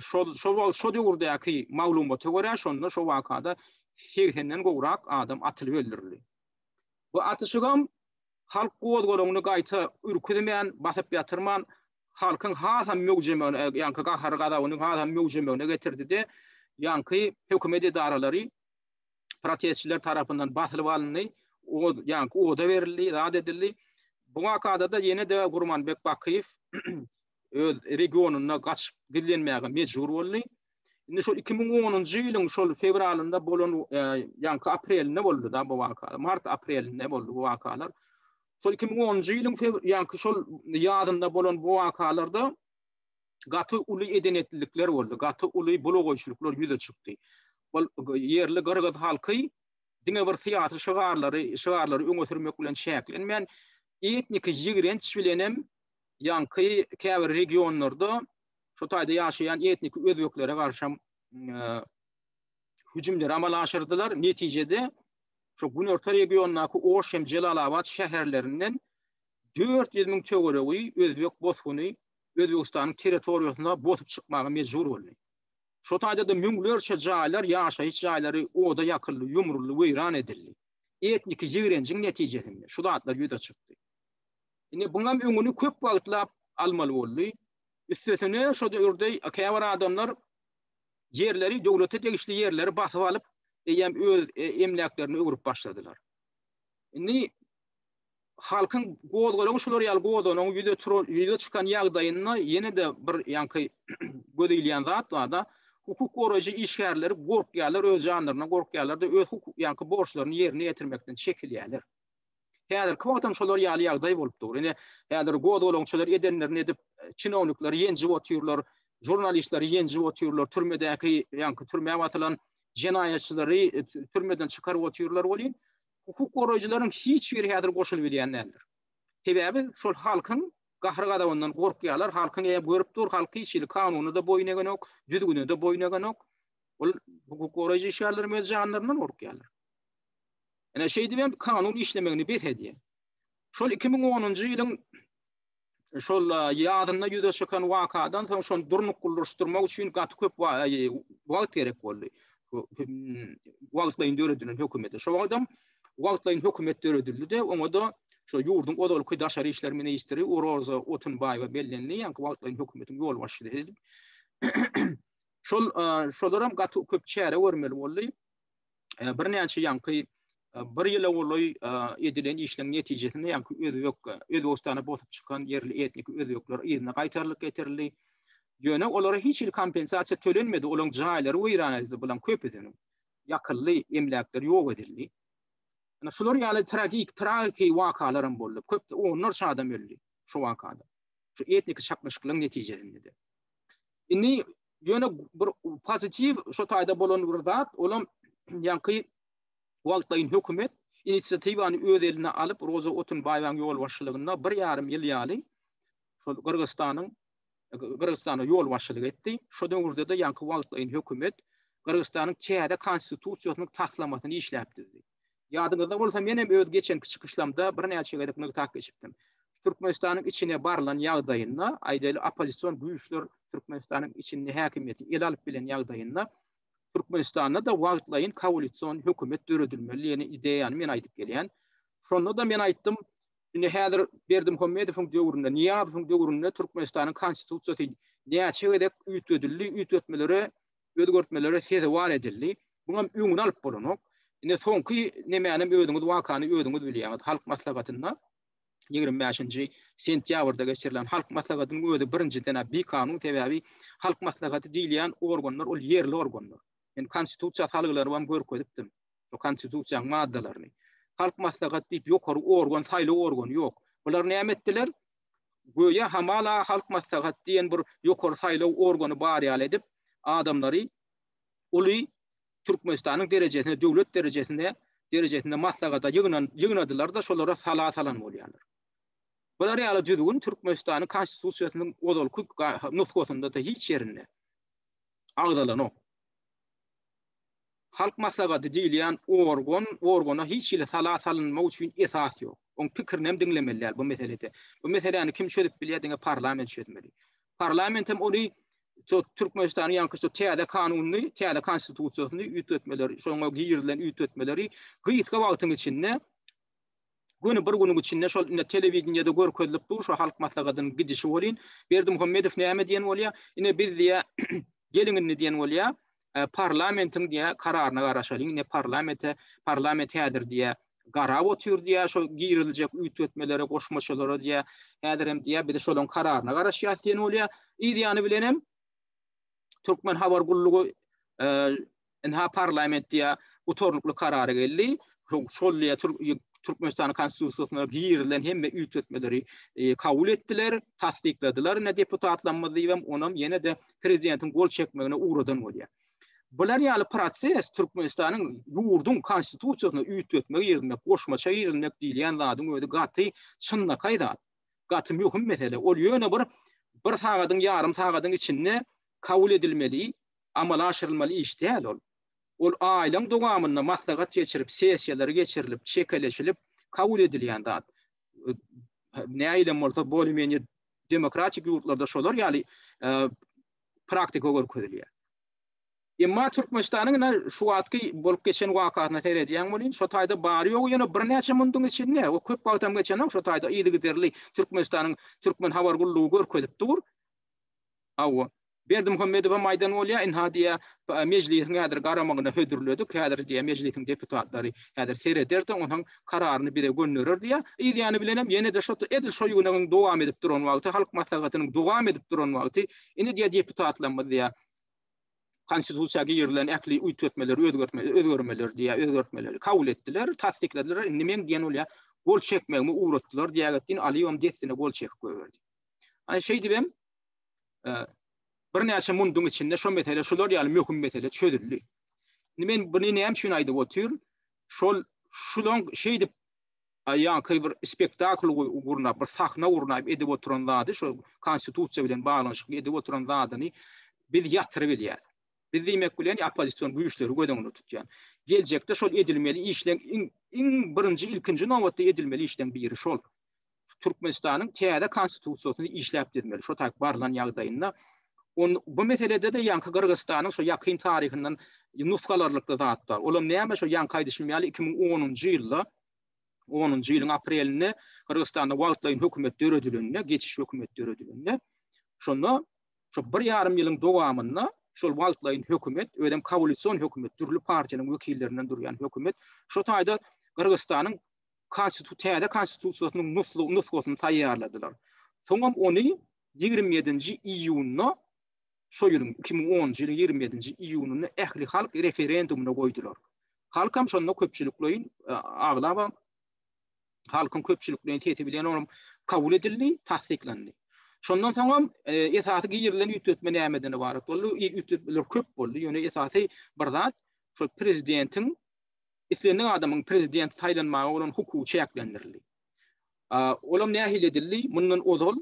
şol şol şo döwürdäki maglumata görä şonda şo wakada 80-den gowrak adam atylyp öldürildi bu atyşygam halk gozgalaňyny gaýta ürküzmän basyp ýatyrman halkyň hasam möwjemegine, ýaňky gahary-gazabyny hasam möwjemegine getirdi-de, ýaňky hökümet edaralary protestçiler tarapyndan basylyp alyndy, od, ýaňky oda berildi, zat edildi. Bu wakada-da ýene-de Gurmanbek Bakyýew öz regionyna gaçyp gizlenmäge mejbur boldy. Indi şol 2010-njy ýylyň şol fewralynda bolan e, ýaňky aprelinde boldy da bu wakalar. Mart aprelinde boldy bu wakalar. Şol 2010-njy ýylyň ýaňky şol ýazynda bolan bu wakalarda gaty uly edenetlilikler boldy. Gaty uly bulagoýçulyklar ýüze çykdy. Ol ýerli gyrgyz halky diňe bir syýasy şygarlary, şygarlary öňe sürmek bilen çäklenmän, etniki ýigrenç bilen hem ýaňky käbir regionlarda şu taýda ýaşaýan etniki özbeklere garşam hüjümleri amala aşyrdylar. Netijede şu günorta regiondaky Oş hem Jelalabat şäherlerinden 400 müň töweregi özbek bosguny Özbegistanyň territoriýasyna bosup çykmaga mejbur boldy. Şu taýda da müňlerçe jaýlar, ýaşaýyş jaýlary oda ýakyldy, ýumruldy, weýran edildi. Etniki ýigrenjiň netijesinde şu zatlar ýüze çykdy. Indi buňam öňüni köp wagtlap almaly boldy. Üstesine şo döwürde käbir adamlar ýerleri, döwlete degişli ýerleri basyp alyp, eýýäm öz emläklerine öwrüp başladylar. Indi halkyň gozgalaňy şular ýaly gozgalaňy ýüze turan, ýüze çykan ýagdaýynda ýene-de bir ýaňky göz ilýän zat bar-da, hukuk goraýjy işgärleri gorkýarlar, öz janlaryna gorkýarlar-da, öz hukuk ýaňky borçlaryny ýerine ýetirmekden çekilýärler. Häzirki wagtam şolar ýaly ýagdaý bolup dur. Ine, häzir gozgalaň şolar edenlerini edip, çinownikleri ýenjip otyrlar, žurnalistleri ýenjip otyrlar, türmedäki, ýaňky türmä basylan jenaýatçylary türmeden çykaryp otyrlar welin, hukuk goraýjylaryň hiç biri häzir goşulyp bilýän däldir. Sebäbi şol halkyň gahry-gazabyndan gorkýarlar, halkyň eýe görüp dur, halk hiç hili kanuna-da boýun egenok, düzgüne-de boýun egenok. Ol hukuk goraýjy işgärlerimiz janlaryndan gorkýarlar. Ine, şeýdibem kanun işlemegini bes edýär. Şol iki müň onunjy ýylyň şol ýazynda ýüze çykan wakadan soň şony durnuklylaşdyrmak üçin gaty köp wagt gerek boldy. Wagtlaýyn döredilen hökümete. Şol wagtam wagtlaýyn hökümet döredildi-de, oňa-da şu ýurduň ozalky daşary işler ministri Uroza Otunbaýewa bellendi, ýa-da wagtlaýyn hökümetiň ýolbaşçysy. Şol şolar hem gaty köp çäre görmeli boldy. birnäçe ýaňky bir ýyla golaý edilen işleriň netijesinde ýaňky özbek Özbegistana botup çykan ýerli etnik özbekler yzyna gaýtarylyp getirildi. Ýöne olara hiç hili kompensasiýa tölenmedi, olaryň jaýlary weýran edildi, bularyň köpüsiniň ýakyldy, emläkleri ýok edildi. Ýöne şular ýaly tragik, tragiki wakalar hem boldy. Köp onlarça adam öldi şu wakada. Şu etniki çaknyşyklaryň netijesinde. Indi Ýöne bir pozitiw şu taýda bolan bir zat, olam ýaňky wagtlaýyn hökümet inisiatiwany öz eline alyp, Roza Otunbaýewaň ýolbaşçylygynda bir ýarym ýyl ýaly şol Gyrgyzystanyň Gyrgyzystana ýolbaşçylyk etdi. Şu döwürde-de ýaňky wagtlaýyn hökümet Gyrgyzystanyň täze konstitusiýasynyň taslamasyny işläp düzdi. Ýadyňyzda bolsa, menem öz geçenki çykyşlamda birnäçe gezek nygtap geçipdim. Türkmenistanyň içine barylan ýagdaýynda, aýdaýly, oppozision güýçler Türkmenistanyň içinde häkimiýeti ele alyp bilen ýagdaýynda, Türkmenistanda-da wagtlaýyn koalision hökümet döredilmeli diýen ideýany men aýdyp gelýän. Şonda-da men aýtdym, indi häzir Berdimuhamedowyň döwründe, Nyýazowyň döwründe Türkmenistanyň Konstitusiýasy näçe gezek üýtgedildi, üýtgetmelere özgertmelere sezewar edildi. Muň hem öňüni alyp bolanok. Ine, soňky nemänem özüňiz wakany özüňiz bilýäňiz. Halk maslahatynda, ýigrimi bäşinji sentýabrda geçirilen Halk maslahatynyň özi birinjiden-ä bikanun, sebäbi Halk maslahaty diýilýän organlar ol ýerli organlar. Men Konstitusiýa salgylaryny hem görkezipdim, şo Konstitusiýanyň maddalaryny. Halk maslahaty diýip ýokary organ, saýlaw organy ýok. Bular näme etdiler? göýä hamala Halk Maslahaty diýen bir ýokary saýlaw organy bar ýaly edip, adamlary uly Türkmenistanyň derejesine, döwlet derejesine derejesinde maslahata ýygnan ýygnadylar-da, şolara sala salan bolýarlar. Bular ýaly düzgün Türkmenistanyň Konstitusiýasynyň ozalky nusgasynda-da hiç ýerinde agzalanok. Halk maslahaty diýilýän organ, organa hiç hili sala salynmak üçin esas ýok. Oň pikirinem diňlemeli däl bu meselede. Bu meseläni kim çözüp bilýär diňe parlament çözmeli. Parlamentem ony şu Türkmenistanyň ýaňky şu täze kanunyny, täze konstitusiýasyny üýtgetmeleri, şoňa girizilen üýtgetmeleri gysga wagtyň içinde göni bir günüň içinde şol ine telewideniýede görkezilip dur şu halk maslahatynyň gidişi welin Berdimuhamedow näme diýen bolýar? Ine biz diýýär geliň indi diýen bolýar. parlamentiň diýä kararyna garaşalyň ne parlamente parlament häzir diýä garap otyr diýä şo giriljek üýtgetmelere goşmaçalara diýä häzir hem diýä biz şolaň kararyna garaşýas diýen bolýa yz ýany bilen hem türkmen habar gullugy e, inha parlament diýä gutarnykly karary geldi şol ýa Türkmenistanyň Konstitusiýasyna girilen hemme üýtgetmeleri e, kabul etdiler, tassykladylar. Ine deputatlarymyz diýibem onam ýene-de prezidentiň gol çekmegine ugradan bolýar. Bular ýaly proses Türkmenistanyň ýurduň konstitusiýasyna üýtgetme girizmek, goşmaça girizmek diýilýän zadyň özi gaty çynlakaý zat. Gaty möhüm mesele. Ol ýöne bir bir sagadyň, ýarym sagadyň içinde kabul edilmeli, amala aşyrylmaly iş däl ol. Ol aýlaryň dowamynda maslahat geçirip, sessiýalar geçirilip, çekeleşilip kabul edilýän zat. Nähilem bolsa bolymeniýe demokratik ýurtlarda şolar ýaly praktika görkezilýär. Emma Türkmenistanyň ine şu wagtky bolup geçen wakasyna seredýän welin, şo taýda bary-ýogy ýene birnäçe munduň içinde, o köp wagtam geçenok, şo taýda yzygiderli Türkmenistanyň Türkmen habar gullugy görkezip dur. Hawa. Berdimuhamedowam aýdan bolýar, ynha diýýär, Mejlisiň häzir garamagyna hödürledik, häzir diýýär, Mejlisiň deputatlary häzir sereder-de, onuň kararyny bize gönderer diýýär. Yzýany bilenem ýene-de şo edil şo ýygnagyň dowam edip duran wagty, halk maslahatynyň dowam edip duran wagty, indi diýýär, deputatlarymyz diýýär, Konstitusiýa girizilen ähli üýtgetmeleri, özgertmeleri, özgermeleri diýýär, özgertmeleri kabul etdiler, tassykladiler, indi meň diýen bolýar, gol çekmegimi ugratdylar diýerek etdiň, Alyýewem dessine gol çekip goýberdi. Ana şeýdibem, birnäçe munduň içinde şo mesele şular ýaly möhüm mesele çözüldi. Indi men buny näme üçin aýdyp otyryn? Şol şulan şeýdip ýaňky bir spektakl gurnap, bir sahna gurnap edip oturan zady, şo konstitusiýa bilen baglanyşykly edip oturan zadyny biz ýatyryp bilýär. Biz diýmek bilen oppozision güýçleri göz öňünde tutýan. Geljekde şol edilmeli işleň iň birinji ilkinji nobatda edilmeli işleň biri şol. Türkmenistanyň täze konstitusiýasyny işläp düzmeli, şo taýyp barlan ýagdaýynda on bu meselede-de ýaňky Gyrgyzystanyň şo ýakyn taryhyndan nusgalarlykda zat bar. Olam näme şo ýaňky aýdyşym ýaly iki müň onunjy ýylda, onunjy ýylyň aprelinde Gyrgyzystanda wagtlaýyn hökümet döredilende, geçiş hökümet döredilende, şonda şo bir ýarym ýylyň dowamynda şol wagtlaýyn hökümet, özem kowalision hökümet, dürli partiýanyň wekillerinden durýan hökümet, şo taýda Gyrgyzystanyň Konstitu täze Konstitusiýasynyň nuslu nusgasyny taýýarladylar. Soňam ony ýigrimi ýedinji iýunda, şo ýylyň, iki müň onunjy ýylyň ýigrimi ýedinji iýunynda ählihalk referendumyna goýdular. Halkam şonda köpçülikleýin, aglaba halkyň köpçülikleýin sesi bilen olam kabul edildi, tassyklandy. Şondan soňam esasy girilen üýtgetme nämeden ybarat boldy? Üýtgetmeler köp boldy, ýöne esasy bir zat, şol prezidentiň islendik adamyň prezident saýlanmaga bolan hukugy çäklendirildi. Olam nähili edildi? Mundan ozal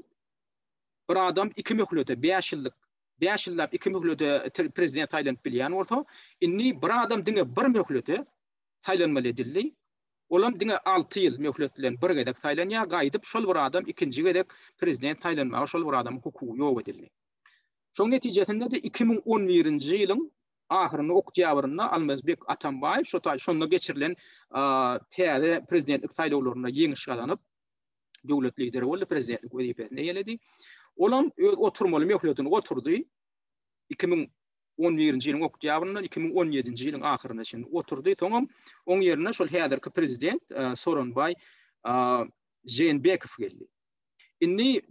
bir adam iki möhlete, bäş ýyllyk, bäş ýyllap iki möhlete prezident saýlanyp bilýän bolsa, indi bir adam diňe bir möhlete saýlanmaly edildi. Olam diňe alty ýyl möhlet bilen bir gezek saýlanýar, gaýdyp şol bir adam ikinji gezek prezident saýlanmaga şol bir adamyň hukugy ýok edildi. Şoň netijesinde-de iki müň on birinji ýylyň Ahyrynda oktýabrynda Almazbek Atambaýew şo taý şonda geçirilen täze prezidentlik saýlawlarynda ýeňiş gazanyp, döwlet lideri boldy, prezidentlik wezipesini eýeledi. Olam öz oturmaly möhletini oturdy. Iki müň on birinji ýylyň oktýabryndan iki müň on ýedinji ýylyň ahyryna çenli oturdy. Soňam oň ýerine şol häzirki prezident Soronbaý Žeenbekow geldi. Indi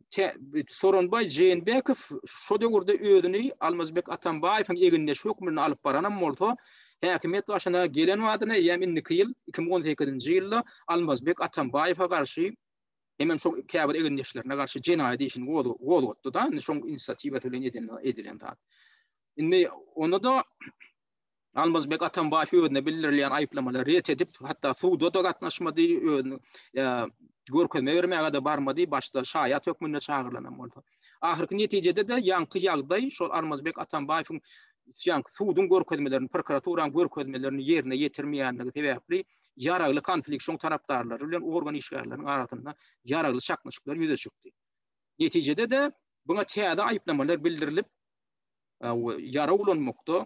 Soronbaý Jeenbekow şo döwürde özüni Almazbek Atambaýewiň egindeşi hökmünde alyp baranam bolsa, häkimiýet başyna gelen badyna eýýäm indiki ýyl, iki müň on sekizinji ýylda Almazbek Atambaýewe garşy hemem şo käbir egindeşlerine garşy jenaýat işini gozgatdy-da, indi şoň inisiatiwasy bilen edilen zat. Indi onda-da Almazbek Atambaýew özüne bildirilýän aýyplamalary ret edip, hatda suda-da gatnaşmady, özüni görkezme bermäge-de barmady, başda şaýat hökmünde çagyrylanam bolsa. Ahyrky netijede-de ýaňky ýagdaý şol Almazbek Atambaýewiň ýaňky suduň görkezmelerini, prokuraturaň görkezmelerini ýerine ýetirmeýändigi sebäpli ýaragly konflikt, şoň tarapdarlary bilen organ işgärleriniň arasynda ýaragly çaknyşyklar ýüze çykdy. Netijede-de, buňa täze aýyplamalar bildirilip, we ýara ulanmakda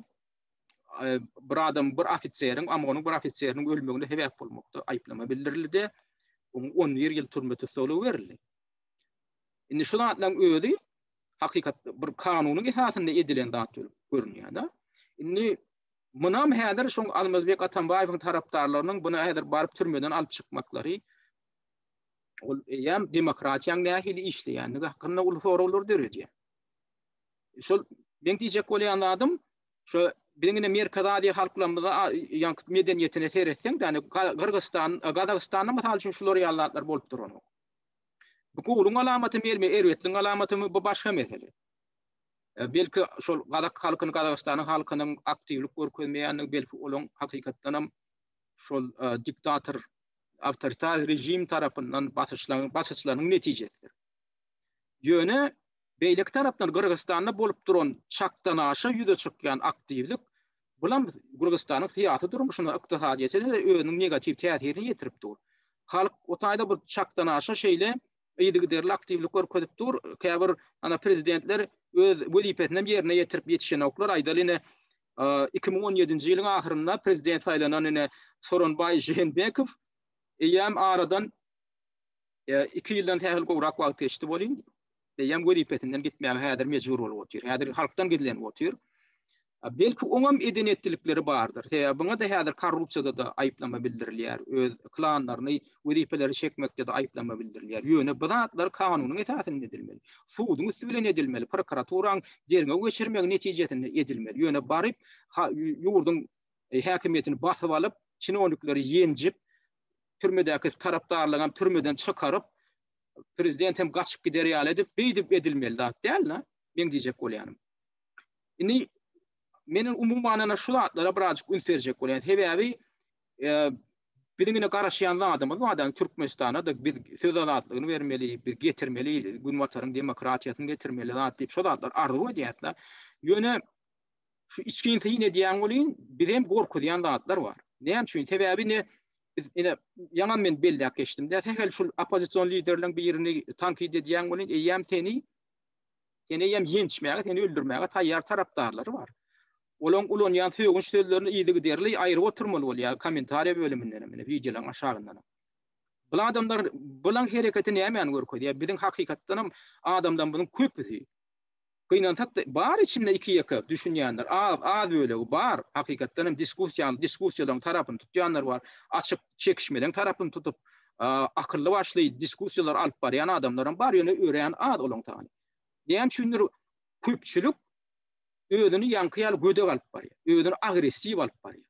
bir adam bir ofiseriň amgonyň bir ofiseriň ölmegine sebäp bolmakda aýyplama bildirildi oňa on bir ýyl türme tussaglygy berildi indi şu zatlaryň özi hakykat bir kanunyň esasynda edilen zat bolup görünýär da indi munam häzir şu almazbek atambaýewiň tarapdarlarynyň bunu häzir baryp türmeden alyp çykmaklary ol eýýäm demokratiýanyň nähili işleýändigi hakynda uly soraglar döredýär şol meň diýjek bolýan zadym şo biziň ine Merkezi Aziýa halklarymyza ýaňky medeniýetine seretseň ýani Gyrgyzystan Gazagystanda mysal üçin şular ýaly zatlar bolup duranok. Bu gowulyň alamaty mi erbetliň alamaty mi bu başga mesele. E, belki şol gazak halkyny Gazagystanyň halkynyň aktiwlik görkezmeýändigi belki olaň hakykatdan hem şol e, diktator awtoritar rejim tarapyndan basyşlaryň basyşlaryň netijesidir. Ýöne Beýleki tarapdan Gyrgyzystanda bolup duran çakdanaşa ýüze çykýan aktiwlik, bulam Gyrgyzystanyň syýasy durmuşyna, ykdysadyýetine-de özüniň negatiw täsirini ýetirip dur. Halk o taýda bu çakdanaşa şeýle yzygiderli aktiwlik görkezip dur, käbir ana prezidentler öz wezipesinem ýerine ýetirip ýetişenoklar, aýdaly ine, iki müň on ýedinji ýylyň ahyrynda prezident saýlanan ine Soronbaý Žeenbekow eýýäm aradan, Iki ýyldan sähel gowrak wagt geçdi welin, eýýäm wezipesinden gitmäge häzir mejbur bolup otyr. Häzir halkdan gizlenip otyr. Belki oňam eden-etdilikleri bardyr. Sebäbi oňa-da häzir korrupsiýada-da aýyplama bildirilýär, öz klanlaryny wezipeleri çekmekde-de aýyplama bildirilýär. Ýöne bu zatlar kanunyň esasynda edilmeli. Suduň üsti bilen edilmeli, prokuraturaň derňew geçirmegi netijesinde edilmeli. Ýöne baryp, ýurduň häkimiýetini basyp alyp, çinownikleri ýenjip, türmedäki tarapdarlygam türmeden çykaryp prezident hem gaçyp gider ýaly edip beýdip edilmeli zat däl da men diýjek bolýanym indi meniň umuman şu zatlara birazjyk üns berjek bolýan sebäbi e, biziň ine garaşýan zadymyz bar türkmenistana da biz söz azatlygyny bermeli bir getirmeli günbataryň demokratiýasyny getirmeli zat diýip şu zatlar arzuw edýäris da ýöne şu içgin syn edýän welin bizem gorkuzýan zatlar bar. Näme üçin? Sebäbi ne biz ine ýaňa men belläp geçdim. Dä sähel şul oppozision liderleriň birini tankyt edýän welin eýýäm seni seni eýýäm ýençmäge, seni öldürmäge taýýar tarapdarlary bar. Olaň ulanýan sögünç sözlerini ýygy giderli aýryp oturmaly bolýar kommentariýa bölüminden hem, wideolaryň aşagyndan hem. Bu adamlar bilen hereketi nämäni görkezýär? Biziň hakykatdan hem adamlarymyzyň köpüsi Gynansak-da, bar içinde iki-ýeke düşünýänler, az, az bölegi bar. Hakykatdan hem diskussiýanyň, diskussiýalaryň tarapyny tutýanlar bar. Açyk çekişmeleň tarapyny tutup, akylly başly diskussiýalary alyp barýan adamlaram bar, ýöne örän az olaň sany. Näme üçindir, köpçülik özüni ýaňky ýaly gödek alyp barýar, özüni agressiw alyp barýar.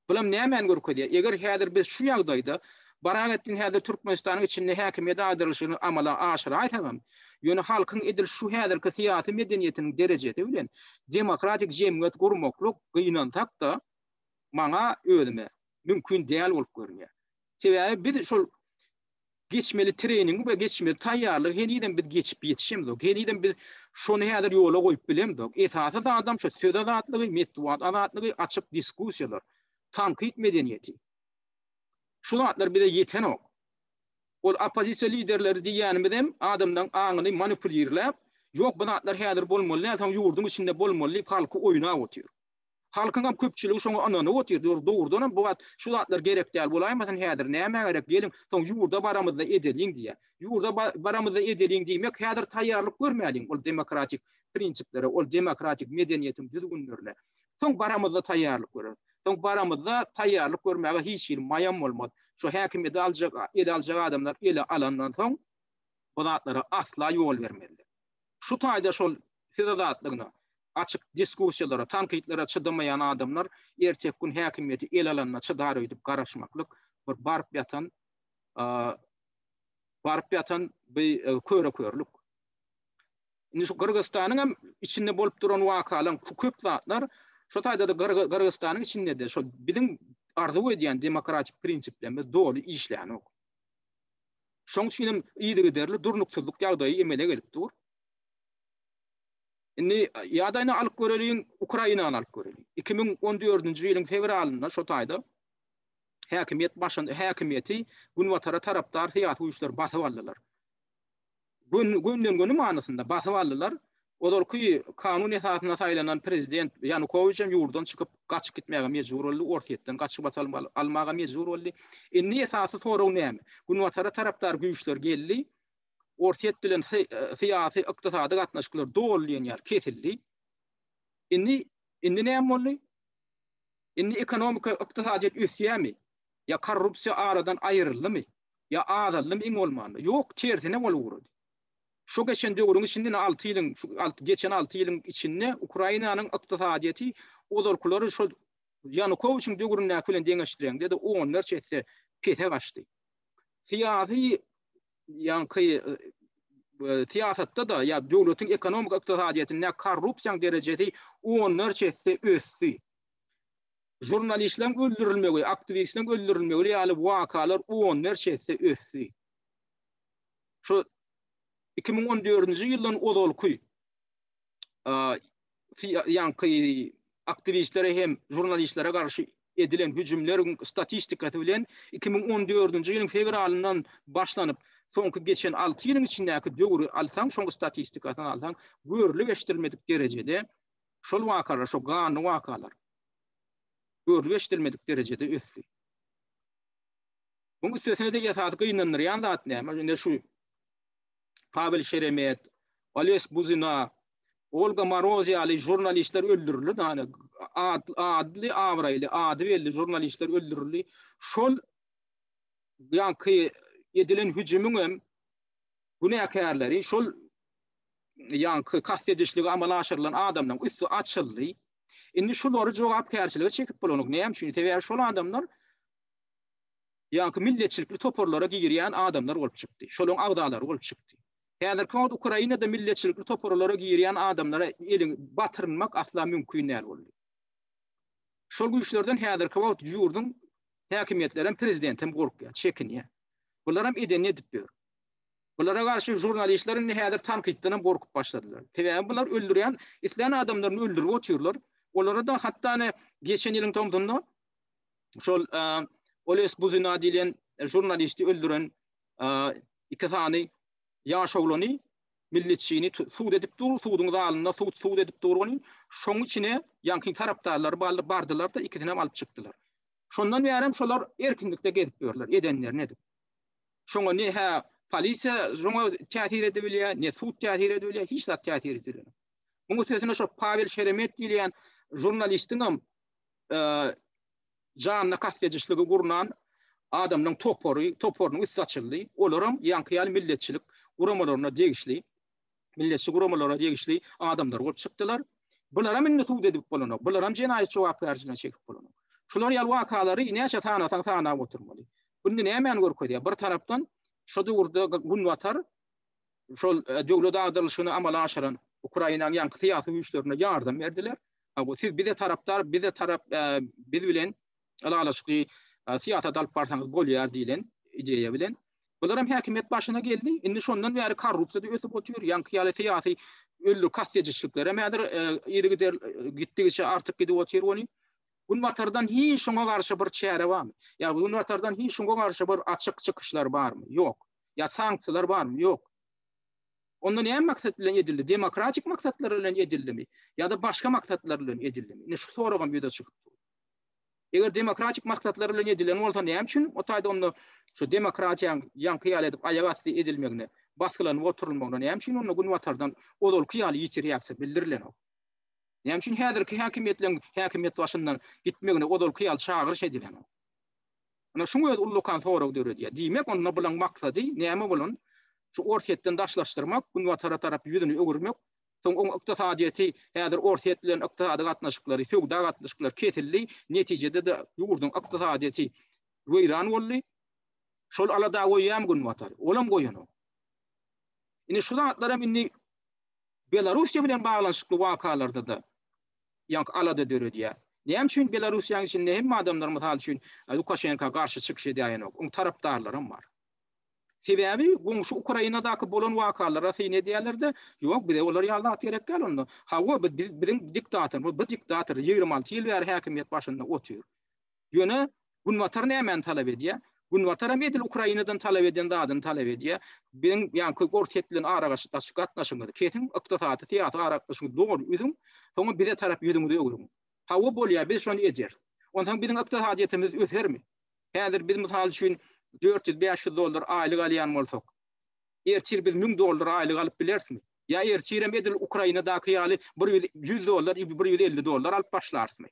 Bulam nämäni görkezýär? Eger häzir biz şu ýagdaýda barak etsin häzir Türkmenistanyň içinde häkimiýet agdarylyşyny amala aşyraýsagam, ýöne halkyň edil şu häzirki syýasy medeniýetiniň derejesi bilen demokratik jemgyýet gurmaklyk gynansak-da, maňa özüme, mümkin däl bolup görünýär. Sebäbi biz şol geçmeli treýningi we geçmeli taýýarlygy henizem biz geçip ýetişemzok. Henizem biz şony häzir ýola goýup bilemzok. Esasy zadam şu söz azatlygy, metbugat azatlygy, açyk diskussiýalar, tankyt medeniýeti. Şu zatlar bize ýetenok. Ol oppozisiýa liderleri diýýänimiz hem adamlaryň aňyny manipulirläp, ýok bu zatlar häzir bolmaly däl, soň ýurduň içinde bolmaly diýip halky oýnap otyr. Halkyňam köpçüligi şoňa ynanyp otyr, ýöri dogrudanam bu wagt şu zatlar gerek däl bolaýmasyn, häzir nämä gerek, geliň, soň ýurda baramyzda edeliň diýýär. Ýurda baramyzda edeliň diýmek, häzir taýýarlyk görmäliň ol demokratik prinsiplere, ol demokratik medeniýetiň düzgünlerine. Soň baramyzda taýýarlyk göreris. Soň baramyzda taýýarlyk görmäge hiç hili maýam bolmaz. Şu häkimiýeti aljak, ele aljak adamlar ele alandan soň bu zatlara asla ýol bermezler. Şu taýda şol söz azatlygyna, açyk diskussiýalara, tankytlara çydamaýan adamlar erteki gün häkimiýeti ele alanda çydar öýdüp garaşmaklyk bir baryp ýatan baryp ýatan bir köre-körlük. Indi şu Gyrgyzystanyň hem içinde bolup duran wakalar şu köp zatlar şu taýda-da Gyrgyzystanyň içinde-de şu biziň arzuw edýän demokratik prinsiplerimiz doly işlänok. Şoň üçin hem yzygiderli durnuksyzlyk ýagdaýy emele gelip dur. Indi ýadaýyny alyp göreliň, Ukrainany alyp göreliň. Iki müň on dördünji ýylyň fewralynda şo taýda häkimiýet başyn, häkimiýeti Günbatara tarapdar syýasy güýçler basyp aldylar. Gön, gönden-göni manysynda basyp aldylar. Ozalky kanun esasynda saýlanan prezident Ýanukowiç hem ýurdan çykyp, gaçyp gitmäge mejbur boldy, Orsýetden gaçyp atalym alyp almaga mejbur boldy. Indi esasy sorag näme? Günbatara tarapdar güýçler geldi. Orsýet bilen syýasy, ykdysady gatnaşyklar doly diýen ýaly kesildi. Indi, indi näme boldy? Indi ekonomika, ykdysadyýet ösýärmi? Ýa korrupsiýa aradan aýryldymy? Ýa azaldymy iň bolmanda? Ýok, tersine bolup ugrady. Şu geçen döwrüň içinde, ine alty ýylyň, şu geçen alty ýylyň içinde Ukrainanyň ykdysadyýeti ozalkylary şol Ýanukowiçiň döwründäki bilen deňeşdireňde-de onlarça esse pese gaçdy. Syýasy ýaňky syýasatda-da ýa döwletiň ekonomik ykdysadyýetinde korrupsiýaň derejesi onlarça esse ösdi. Žurnalistleriň öldürilmegi, aktiwistleriň öldürilmegi ýaly wakalar onlarça esse ösdi. Şu iki müň on dördünji ýyldan ozalky ýaňky aktiwistlere hem žurnalistlere garşy edilen hüjümleriň statistikasy bilen iki müň on dördünji ýylyň fewralyndan başlanyp, soňky geçen alty ýylyň içindäki döwri alsaň, şoň statistikasyny alsaň, görlüp eşidilmedik derejede şol wakalar, şo ganly wakalar görlüp eşidilmedik derejede ösdi. Muň üstesine-de esasy gynandyrýan zat näme? Indi şu Pawel Şeremet, Oles Buzina, Olga Maroz ýaly žurnalistler öldürildi, ýani atly, abraýly, ady belli žurnalistler öldürildi. Şol ýaňky edilen hüjümiň hem günäkärleri şol ýaňky kast edişligi amala aşyrylan adamlaryň üsti açyldy. Indi şulary jogapkärçilige çekip bolanok. Näme üçin? Sebäbi şol adamlar ýaňky milletçilikli toparlara girýän adamlar bolup çykdy, şolaryň agzalary bolup çykdy. Häzirki wagt Ukrainada milletçilikli toparlara girýän adamlara elin batyrmak asla mümkin däl boldy. Şol güýçlerden häzirki wagt ýurduň häkimiýetlerem, prezidentem gorkýar, çekinýär. Bularam edenini edip ýör. Bulara garşy žurnalistler indi häzir tankytdanam gorkup başladylar. Sebäbi bular öldürýän, islän adamlaryny öldürip otyrlar. Olara-da hatda ine geçen ýylyň tomsunda şol Oles Buzina diýlen žurnalisti öldüren iki sany ýaş oglany milletçini sud edip dur, suduň zalynda sud sud edip dur ony. Şoň içine ýankyň tarapdarlary bardylar-da ikisini hem alyp çykdylar. Şondan bäri şolar erkinlikde gezip ýörler, edenlerini edip. Şoňa ne hä polisiýa şoňa täsir edip bilýär, ne sud täsir edip bilýär, hiç zat täsir edip bilmär. Muňa sesine şo Pawel Şeremet diýilýän žurnalistiň hem janyna kast edişligi gurnan adamlaryň topary, toparynyň üsti açyldy. Olaram ýaňky ýaly milletçilik guramalaryna degişli, milletçi guramalaryna degişli adamlar bolup çykdylar. Bularam indi sud edip bolanok. Bularam jenaýat jogapkärçiligine çekip bolanok. Şular ýaly wakalary näçe sanasaň sanap oturmaly. Bu indi nämäni görkezýär? Bir tarapdan şu döwürde Günbatar şol döwlet agdarylyşyny amala aşyran Ukrainanyň ýaňky syýasy güýçlerine ýardam berdiler. Siz bize tarapdar, bize tarap, biz bilen ylalaşykly syýasat alyp barsaňyz bolýar diýlen ideýa bilen. Bular hem häkimiýet başyna geldi. Indi şondan bäri korrupsiýa-da ösüp otyr, ýaňky ýaly syýasy öllür kastedişlikler hem häzir yzygider gitdigiçe artyp gidip otyr ony. Günbatardan hiç şoňa garşy bir çäre barmy? Ýa Günbatardan hiç şoňa garşy bir açyk çykyşlar barmy? Ýok. ýa sanksiýalar barmy? Ýok. Onda näme maksat bilen edildi? Demokratik maksatlar bilen edildimi? Ýa-da başga maksatlar bilen edildimi? Ine şu soragam ýüze çykyp dur. Eger demokratik maksatlar bilen edilen bolsa näme üçin o taýda onda şu demokratiýanyň ýaňky ýaly edip aýak asty edilmegine, basgylanyp oturylmagyna näme üçin onda günbatardan ozalky ýaly ýiti reaksiýa bildirilenok? Näme üçin häzirki häkimiýetleriň häkimiýet başyndan gitmegine ozalky ýaly çagyryş edilenok? Ine, şuň özi ullakan sorag döredýär. Diýmek, onda bulaň maksady näme bolan? Şu Orsýetden daşlaşdyrmak, Günbatara tarap ýüzüni öwürmek, soň oň ykdysadyýeti, häzir Orsýet bilen ykdysady gatnaşyklary, söwda gatnaşyklary kesildi, netijede-de ýurduň ykdysadyýeti weýran boldy. Şol alada goýýarmy Günbatar? Olam goýanok. Ine, şu zatlaram indi Belarussiýa bilen baglanyşykly wakalarda-da ýaňky alada döredýär. Näme üçin Belarussiýanyň içinde hemme adamlar mysal üçin Lukaşenka garşy çykyş edäýenok, oň tarapdarlaram bar. Sebäbi goňşy Ukrainadaky bolan wakalara syn edýärlerde, ýok bize olar ýaly zat gerek däl onda. Hawa biz biziň diktatorymyz, bu diktator ýigrimi alty ýyl bäri häkimiýet başynda otyr. Ýöne Günbatar nämäni talap edýär? Günbatar hem edil Ukrainadan talap eden zadyny talap edýär. Biziň ýaňky Orsýet bilen aragaşdaşyk gatnaşygyňyzy kesiň, ykdysady, syýasy aragatnaşygyňyzy doly üzüň, soňam bize tarap ýüzüňizi öwrüň. Hawa, bolýar, biz şony edýäris. Onsoň biziň ykdysadyýetimiz ösermi? Häzir biz, mysal üçin, dört ýüz, bäş ýüz dollar aýlyk alýan bolsak, ertir biz müň dollar aýlyk alyp bilerismi? Ýa ertirem edil Ukrainadaky ýaly bir ýüz, ýüz dollar, bir ýüz elli dollar alyp başlarysmy?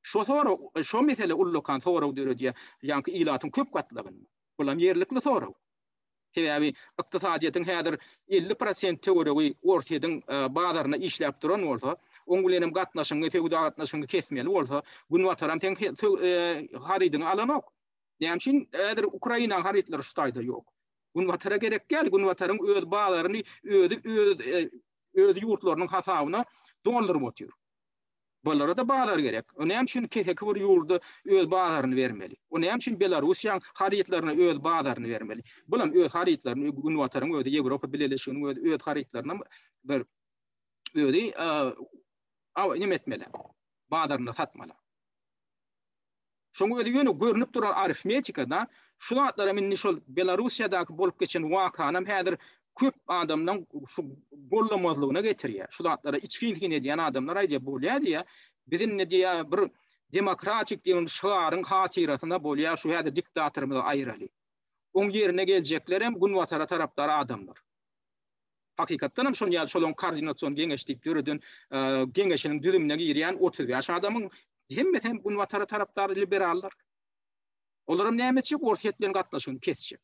Şo sorag, şo mesele ullakan sorag döredýär, ýaňky ilatyň köp gatlagynda. Bulam ýerlikli sorag. Sebäbi ykdysadyýetiň häzir elli prosent töweregi Orsýetiň bazaryna işläp duran bolsa, oň bilen hem gatnaşygyňy, söwda gatnaşygyňy kesmeli bolsa, Günbataram seň harydyňy alanok. Näme üçin häzir Ukrainaň harytlary şu taýda ýok? Günbatara gerek däl, Günbataryň öz bazaryny özi öz ýurtlarynyň hasabyna dolduryp otyr. Bulara-da bazar gerek. O näme üçin keseki bir ýurda öz bazaryny bermeli? O näme üçin Belarussiýaň harytlaryna öz bazaryny bermeli? Bulam öz harytlaryny Günbataryň özi, Ýewropa Bileleşiginiň özi öz harytlarynam bir özi neme etmeli, bazarynda satmaly. Şoň özi ýöne görnüp duran arifmetika-da. Şu zatlaram indi şol Belarussiýadaky bolup geçen wakanam häzir köp adamlaň şu gollamazlygyna getirýär. Şu zatlara içgin-içgin edýän adamlar aýdýar, bolýar diýýär. Biz indi diýýär bir demokratik diýen şygaryň hatyrasyna bolýar şu häzir diktatorymyzy aýyraly. Oň ýerine geljeklerem Günbatara tarapdar adamlar. hakykatdan hem şon ýaly şolaň koordinasion geňeş diýip döreden geňeşiniň düzümine girýän otuz bäş adamyň hemmesi hem günbatara tarapdar liberallar. Olar hem näme etjek? Orsýet bilen gatnaşygyny kesjek.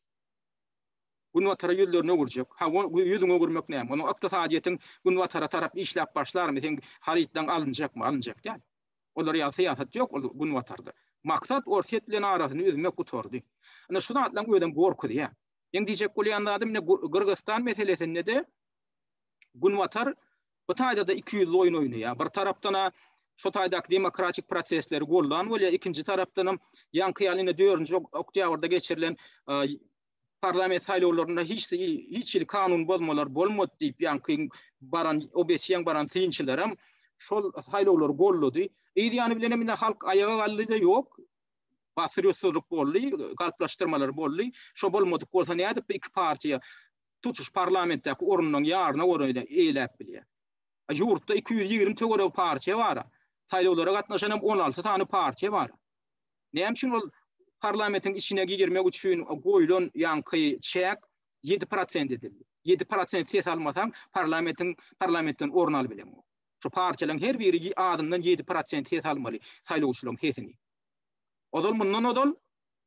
Günbatara ýüzlerini öwürjek. Ha, ýüzüňi öwürmek näme? Onuň ykdysadyýetiň günbatara tarap işläp başlarmy? Seň harytlaryň alynjakmy? Alynjak däl. Olar ýaly syýasat ýok ol günbatarda. Maksat Orsýet bilen arasyny üzmek gutardy. Ine şu zatlaryň özem gorkuzýar. Meň diýjek bolýan zadym ine Gyrgyzystan meselesinde-de Günbatar bu taýda-da ikiýüzli oýun oýnaýar. Bir tarapdan-a şu taýdaky demokratik prosesleri gollan bolýar, ikinji tarapdanam ýaňky ýaly ine dördünji oktýabrda geçirilen parlament saýlawlarynda hiç hiç hili kanun bozmalar bolmady diýip ýaňky baran OBSE-ň baran synçylaram şol saýlawlary gollady. Yz ýany bilenem ine halk aýaga galdy-da ýok, Basyrysyzlyk boldy, galplaşdyrmalar boldy. Şo bolmadyk bolsa nädip bu iki partiýa tutuş parlamentdäki orunlaryň ýaryna göräýle eýläp bilýär? Ýurtda iki ýüz ýigrimi töweregi partiýa bar. Saýlawlara gatnaşan hem on alty sany partiýa bar. Näme üçin ol parlamentiň içine girmek üçin goýlan ýaňky çäk ýedi prosent edildi? Ýedi prosent ses almasaň parlamentiň parlamentden orun alyp bileňok. Şu partiýalaryň her biri azyndan ýedi prosent ses almaly saýlawçylaryň sesini. Ozal mundan ozal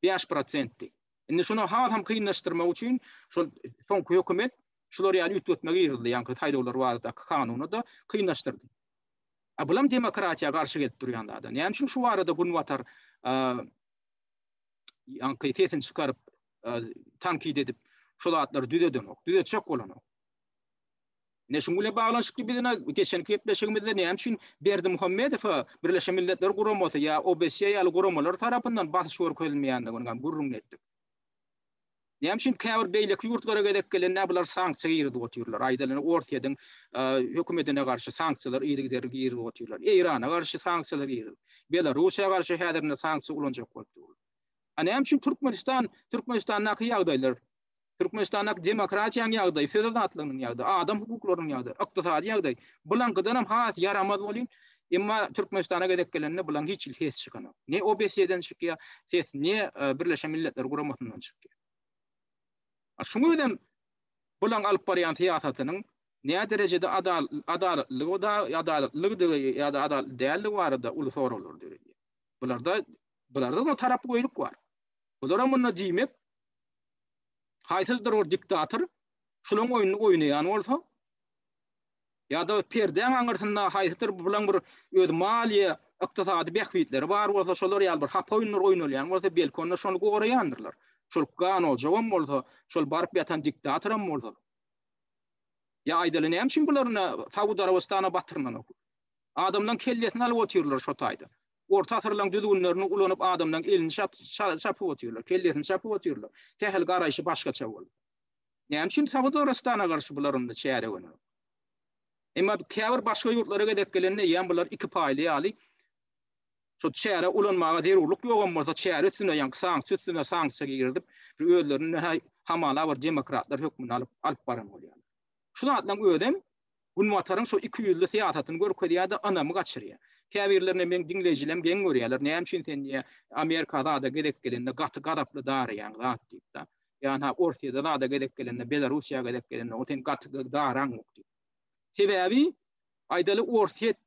bäş prosentdi. Indi şuny hasam kynlaşdyrmak üçin şol soňky hökümet şular ýaly üýtgetme girizdi, ýaňky saýlawlar baradaky kanuny-da kynlaşdyrdy. A bulam demokratiýa garşy gelip durýan zada. Näme üçin şu barada Günbatar ýaňky sesini çykaryp, tankit edip, şu zatlary düzedenok, düzetjek bolanok. Ine şunuň bilen baglanyşykly biz ine geçenki gepleşigimizde näme üçin Berdimuhamedowa Birleşen Milletler Guramasy ýa OBSE ýaly guramalar tarapyndan basyş görkezilmeýändigini hem gürrüňini etdik. Näme üçin käbir beýleki ýurtlara gezek gelende bular sanksiýa girizip otyrlar? Aýdalyny Orsýetiň hökümetine garşy sanksiýalar yzygiderli girizip otyrlar. Eýrana garşy sanksiýalar girizip, Belarusiýa garşy häzir ine sanksiýa ulanjak bolup durlar. A näme üçin Türkmenistan, Türkmenistandaky ýagdaýlar Türkmenistandaky demokratiýanyň ýagdaýy, söz azatlygynyň ýagdaýy, adam hukuklarynyň ýagdaýy, ykdysady ýagdaý, bulaňkydanam has ýaramaz bolýyn, emma Türkmenistana gezek gelende bulaň hiç hili ses çykanok. Ne OBSE-den çykýar ses, ne Birleşen Milletler Guramasyndan çykýar. A şuň özem bulaň alyp barýan syýasatynyň näderejede adalatlylygy da, adalatlylygydygy ýa-da adalatly däldigi barada uly soraglar döredýär. Bularda, bularda-da tarapgöýlik bar. Bulara munda diýmek, Haýsydyr bir diktator şulaň oýnuny oýnaýan bolsa, ýa-da perdäň aňyrsynda haýsydyr bulaň bir öz maliýe, ykdysady bähbitleri bar bolsa, şolar ýaly bir hapa oýunlar oýnalýan bolsa, belki onda şony goraýandyrlar. Şol ganojagam bolsa, şol baryp ýatan diktatoram bolsa. Ýa aýdaly näme üçin bular ine Saud Arabystana batyrmanok? Adamlaň kellesini alyp otyrlar şo taýda. Orta asyrlaryň düzgünlerini ulanyp adamlaryň elini çapyp otyrlar, kellesini çapyp otyrlar. Sähel garaýşy başgaça bolsa. Näme üçin Saud Arabystana garşy bular onda çäre görmüyor? Emma käbir başga ýurtlara gezek gelende ýa bular iki paýly ýaly şo çäre ulanmaga zerurlyk ýogam bolsa çäre üstüne ýaňky sanksiýa üstüne sanksiýa girizip bir özlerini hamala bir demokratlar hökmünde alyp alyp baran bolýarlar. Şu zatlaryň özem Günbataryň şu iki ýüzli syýasatyny görkezýärde ynamy gaçyrýar. Käbirlerine meň diňleýjilem geň görýärler, näme üçin sen diýýär, Amerika zada gezek gelende gaty gazaply daraýaň zat diýipda. Ýa-ha Orsyýada zada gezek gelende, Belarussiýa gezek gelende o sen gaty daraňok diýip. Sebäbi aýdaly Orsyýet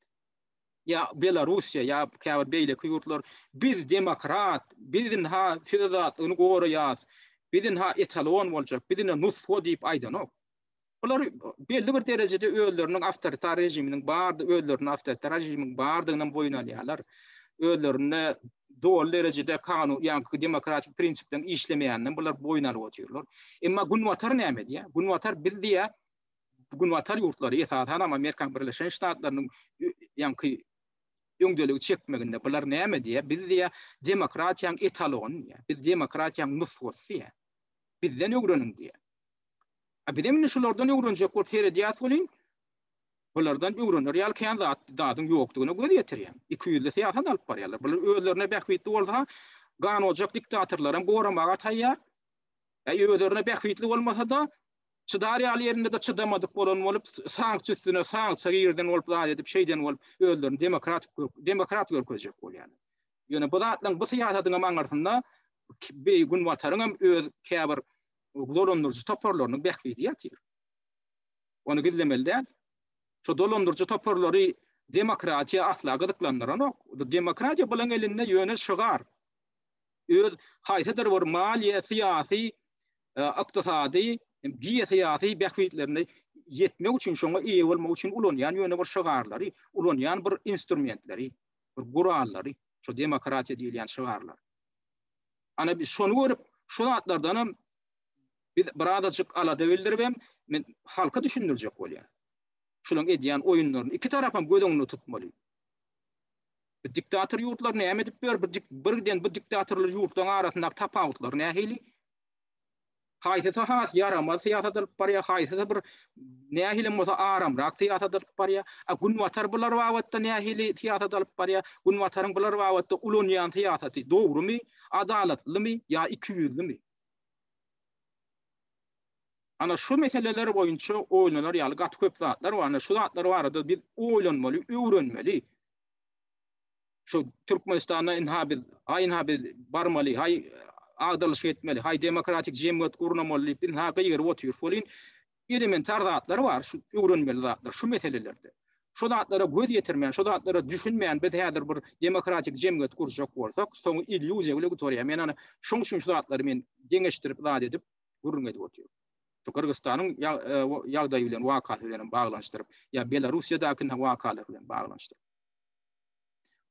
ýa Belarussiýa ýa käbir beýleki ýurtlar biz demokrat, biz ynha söz azatlygyny goraýas, biz ynha etalon boljak, biz ynha nusgo diýip aýdanok. Bular belli bir derejede özleriniň awtoritar režiminiň bar, özlerini awtoritar režimiň bardygyny boýun alýarlar. Özlerinde doly derejede kanun, ýa-ni demokratik prinsipleriň işlemeýänini bular boýun alyp otyrlar. Emma Günbatar näme diýýär? Günbatar biz diýýär, Günbatar ýurtlary, esasan hem Amerikanyň Birleşen Ştatlarynyň ýaňky öňdeligi çekmeginde bular näme diýýär? Biz diýýär, demokratiýanyň etalony diýýär. Biz demokratiýanyň nusgasy diýýär. Bizden öwreniň diýýär. A bizem indi şulardan öwrenjek bolup seredýäs welin, bulardan öwrener ýaly kän zat, zadyň ýokdugyna göz ýetirýän. Ikiýüzli syýasat alyp barýarlar. Bular özlerine bähbitli bolsa, gan ojak diktatorlaram goramaga taýýar. Äý özlerine bähbitli bolmasa-da, çydar ýaly ýerinde-de çydamadyk bolan bolup, sanksiýa üstüne sanksiýa girden bolup, zat edip, şeýden bolup, özlerini demokratik görk, demokrat görkezjek bolýarlar. Ýöne bu zatlaryň, bu syýasatyňam aňyrsynda Günbataryňam öz käbir dolandyryjy toparlarynyň bähbidi ýatyr. Ony gizlemeli däl. Şu dolandyryjy toparlary demokratiýa asla gyzyklandyranok. Demokratiýa bularyň elinde ýöne şygar. Öz haýsydyr bir maliýe, syýasy, e, ykdysady, geosyýasy bähbitlerine ýetmek üçin, şoňa eýe bolmak üçin ulanýan ýöne bir şygarlary, ulanýan bir instrumentleri, bir gurallary, şu demokratiýa diýilýän şygarlar. Ana biz şony görüp, şu zatlardan hem biz birazajyk alada bildirip hem men halka düşündirjek bolýan. Şularyň edýän oýunlaryny iki tarap hem göz öňünde tutmaly. Bir diktator ýurtlar näme edip ber, bir birden bu diktatorly ýurtlaryň arasyndaky tapawutlar nähili? Haýsysy has ýaramaz syýasat alyp barýar, haýsysy bir nähili hem bolsa aramrak syýasat alyp barýar. A Günbatar bular babatda nähili syýasat alyp barýar? Günbataryň bular babatda ulanýan syýasaty dogrumy, adalatlymy ýa ikiýüzlümi? Ana şu meseleler boýunça oýlanar ýaly gaty köp zatlar bar. Ana şu zatlar barada biz oýlanmaly, öwrenmeli. şu Türkmenistanda ynha biz, haý ynha biz barmaly, haý agdalyşyk etmeli, haý demokratik jemgyýet gurnamaly diýip ynha gygyryp otyr. Şolin elementar zatlar bar, şu öwrenmeli zatlar şu meselelerde. Şu zatlara göz ýetirmän, şu zatlara düşünmän biz häzir bir demokratik jemgyýet gurjak bolsak, soňy illýuziýa bilen gutarýar. Men ana şoň üçin şu zatlary men deňeşdirip zat edip gürrüň edip otyryn. Şu Gyrgyzstanyň ýagdaýy bilen, wakasy bilen hem baglanyşdyryp, ýa Belarussiýadaky wakalar bilen baglanyşdyryp.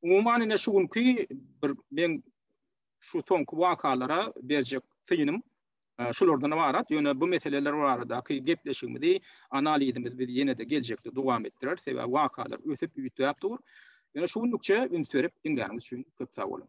Umuman ine şu günki bir men şu soňky wakalara berjek synym şulardan ybarat. Ýöne bu meseleler baradaky gepleşigimizi, analizimizi biz ýene-de geljekde dowam etdireris. Sebäbi wakalar ösüp üýtgäp dur. Ýöne şu günlükçe üns berip diňläniňiz üçin köp sag boluň.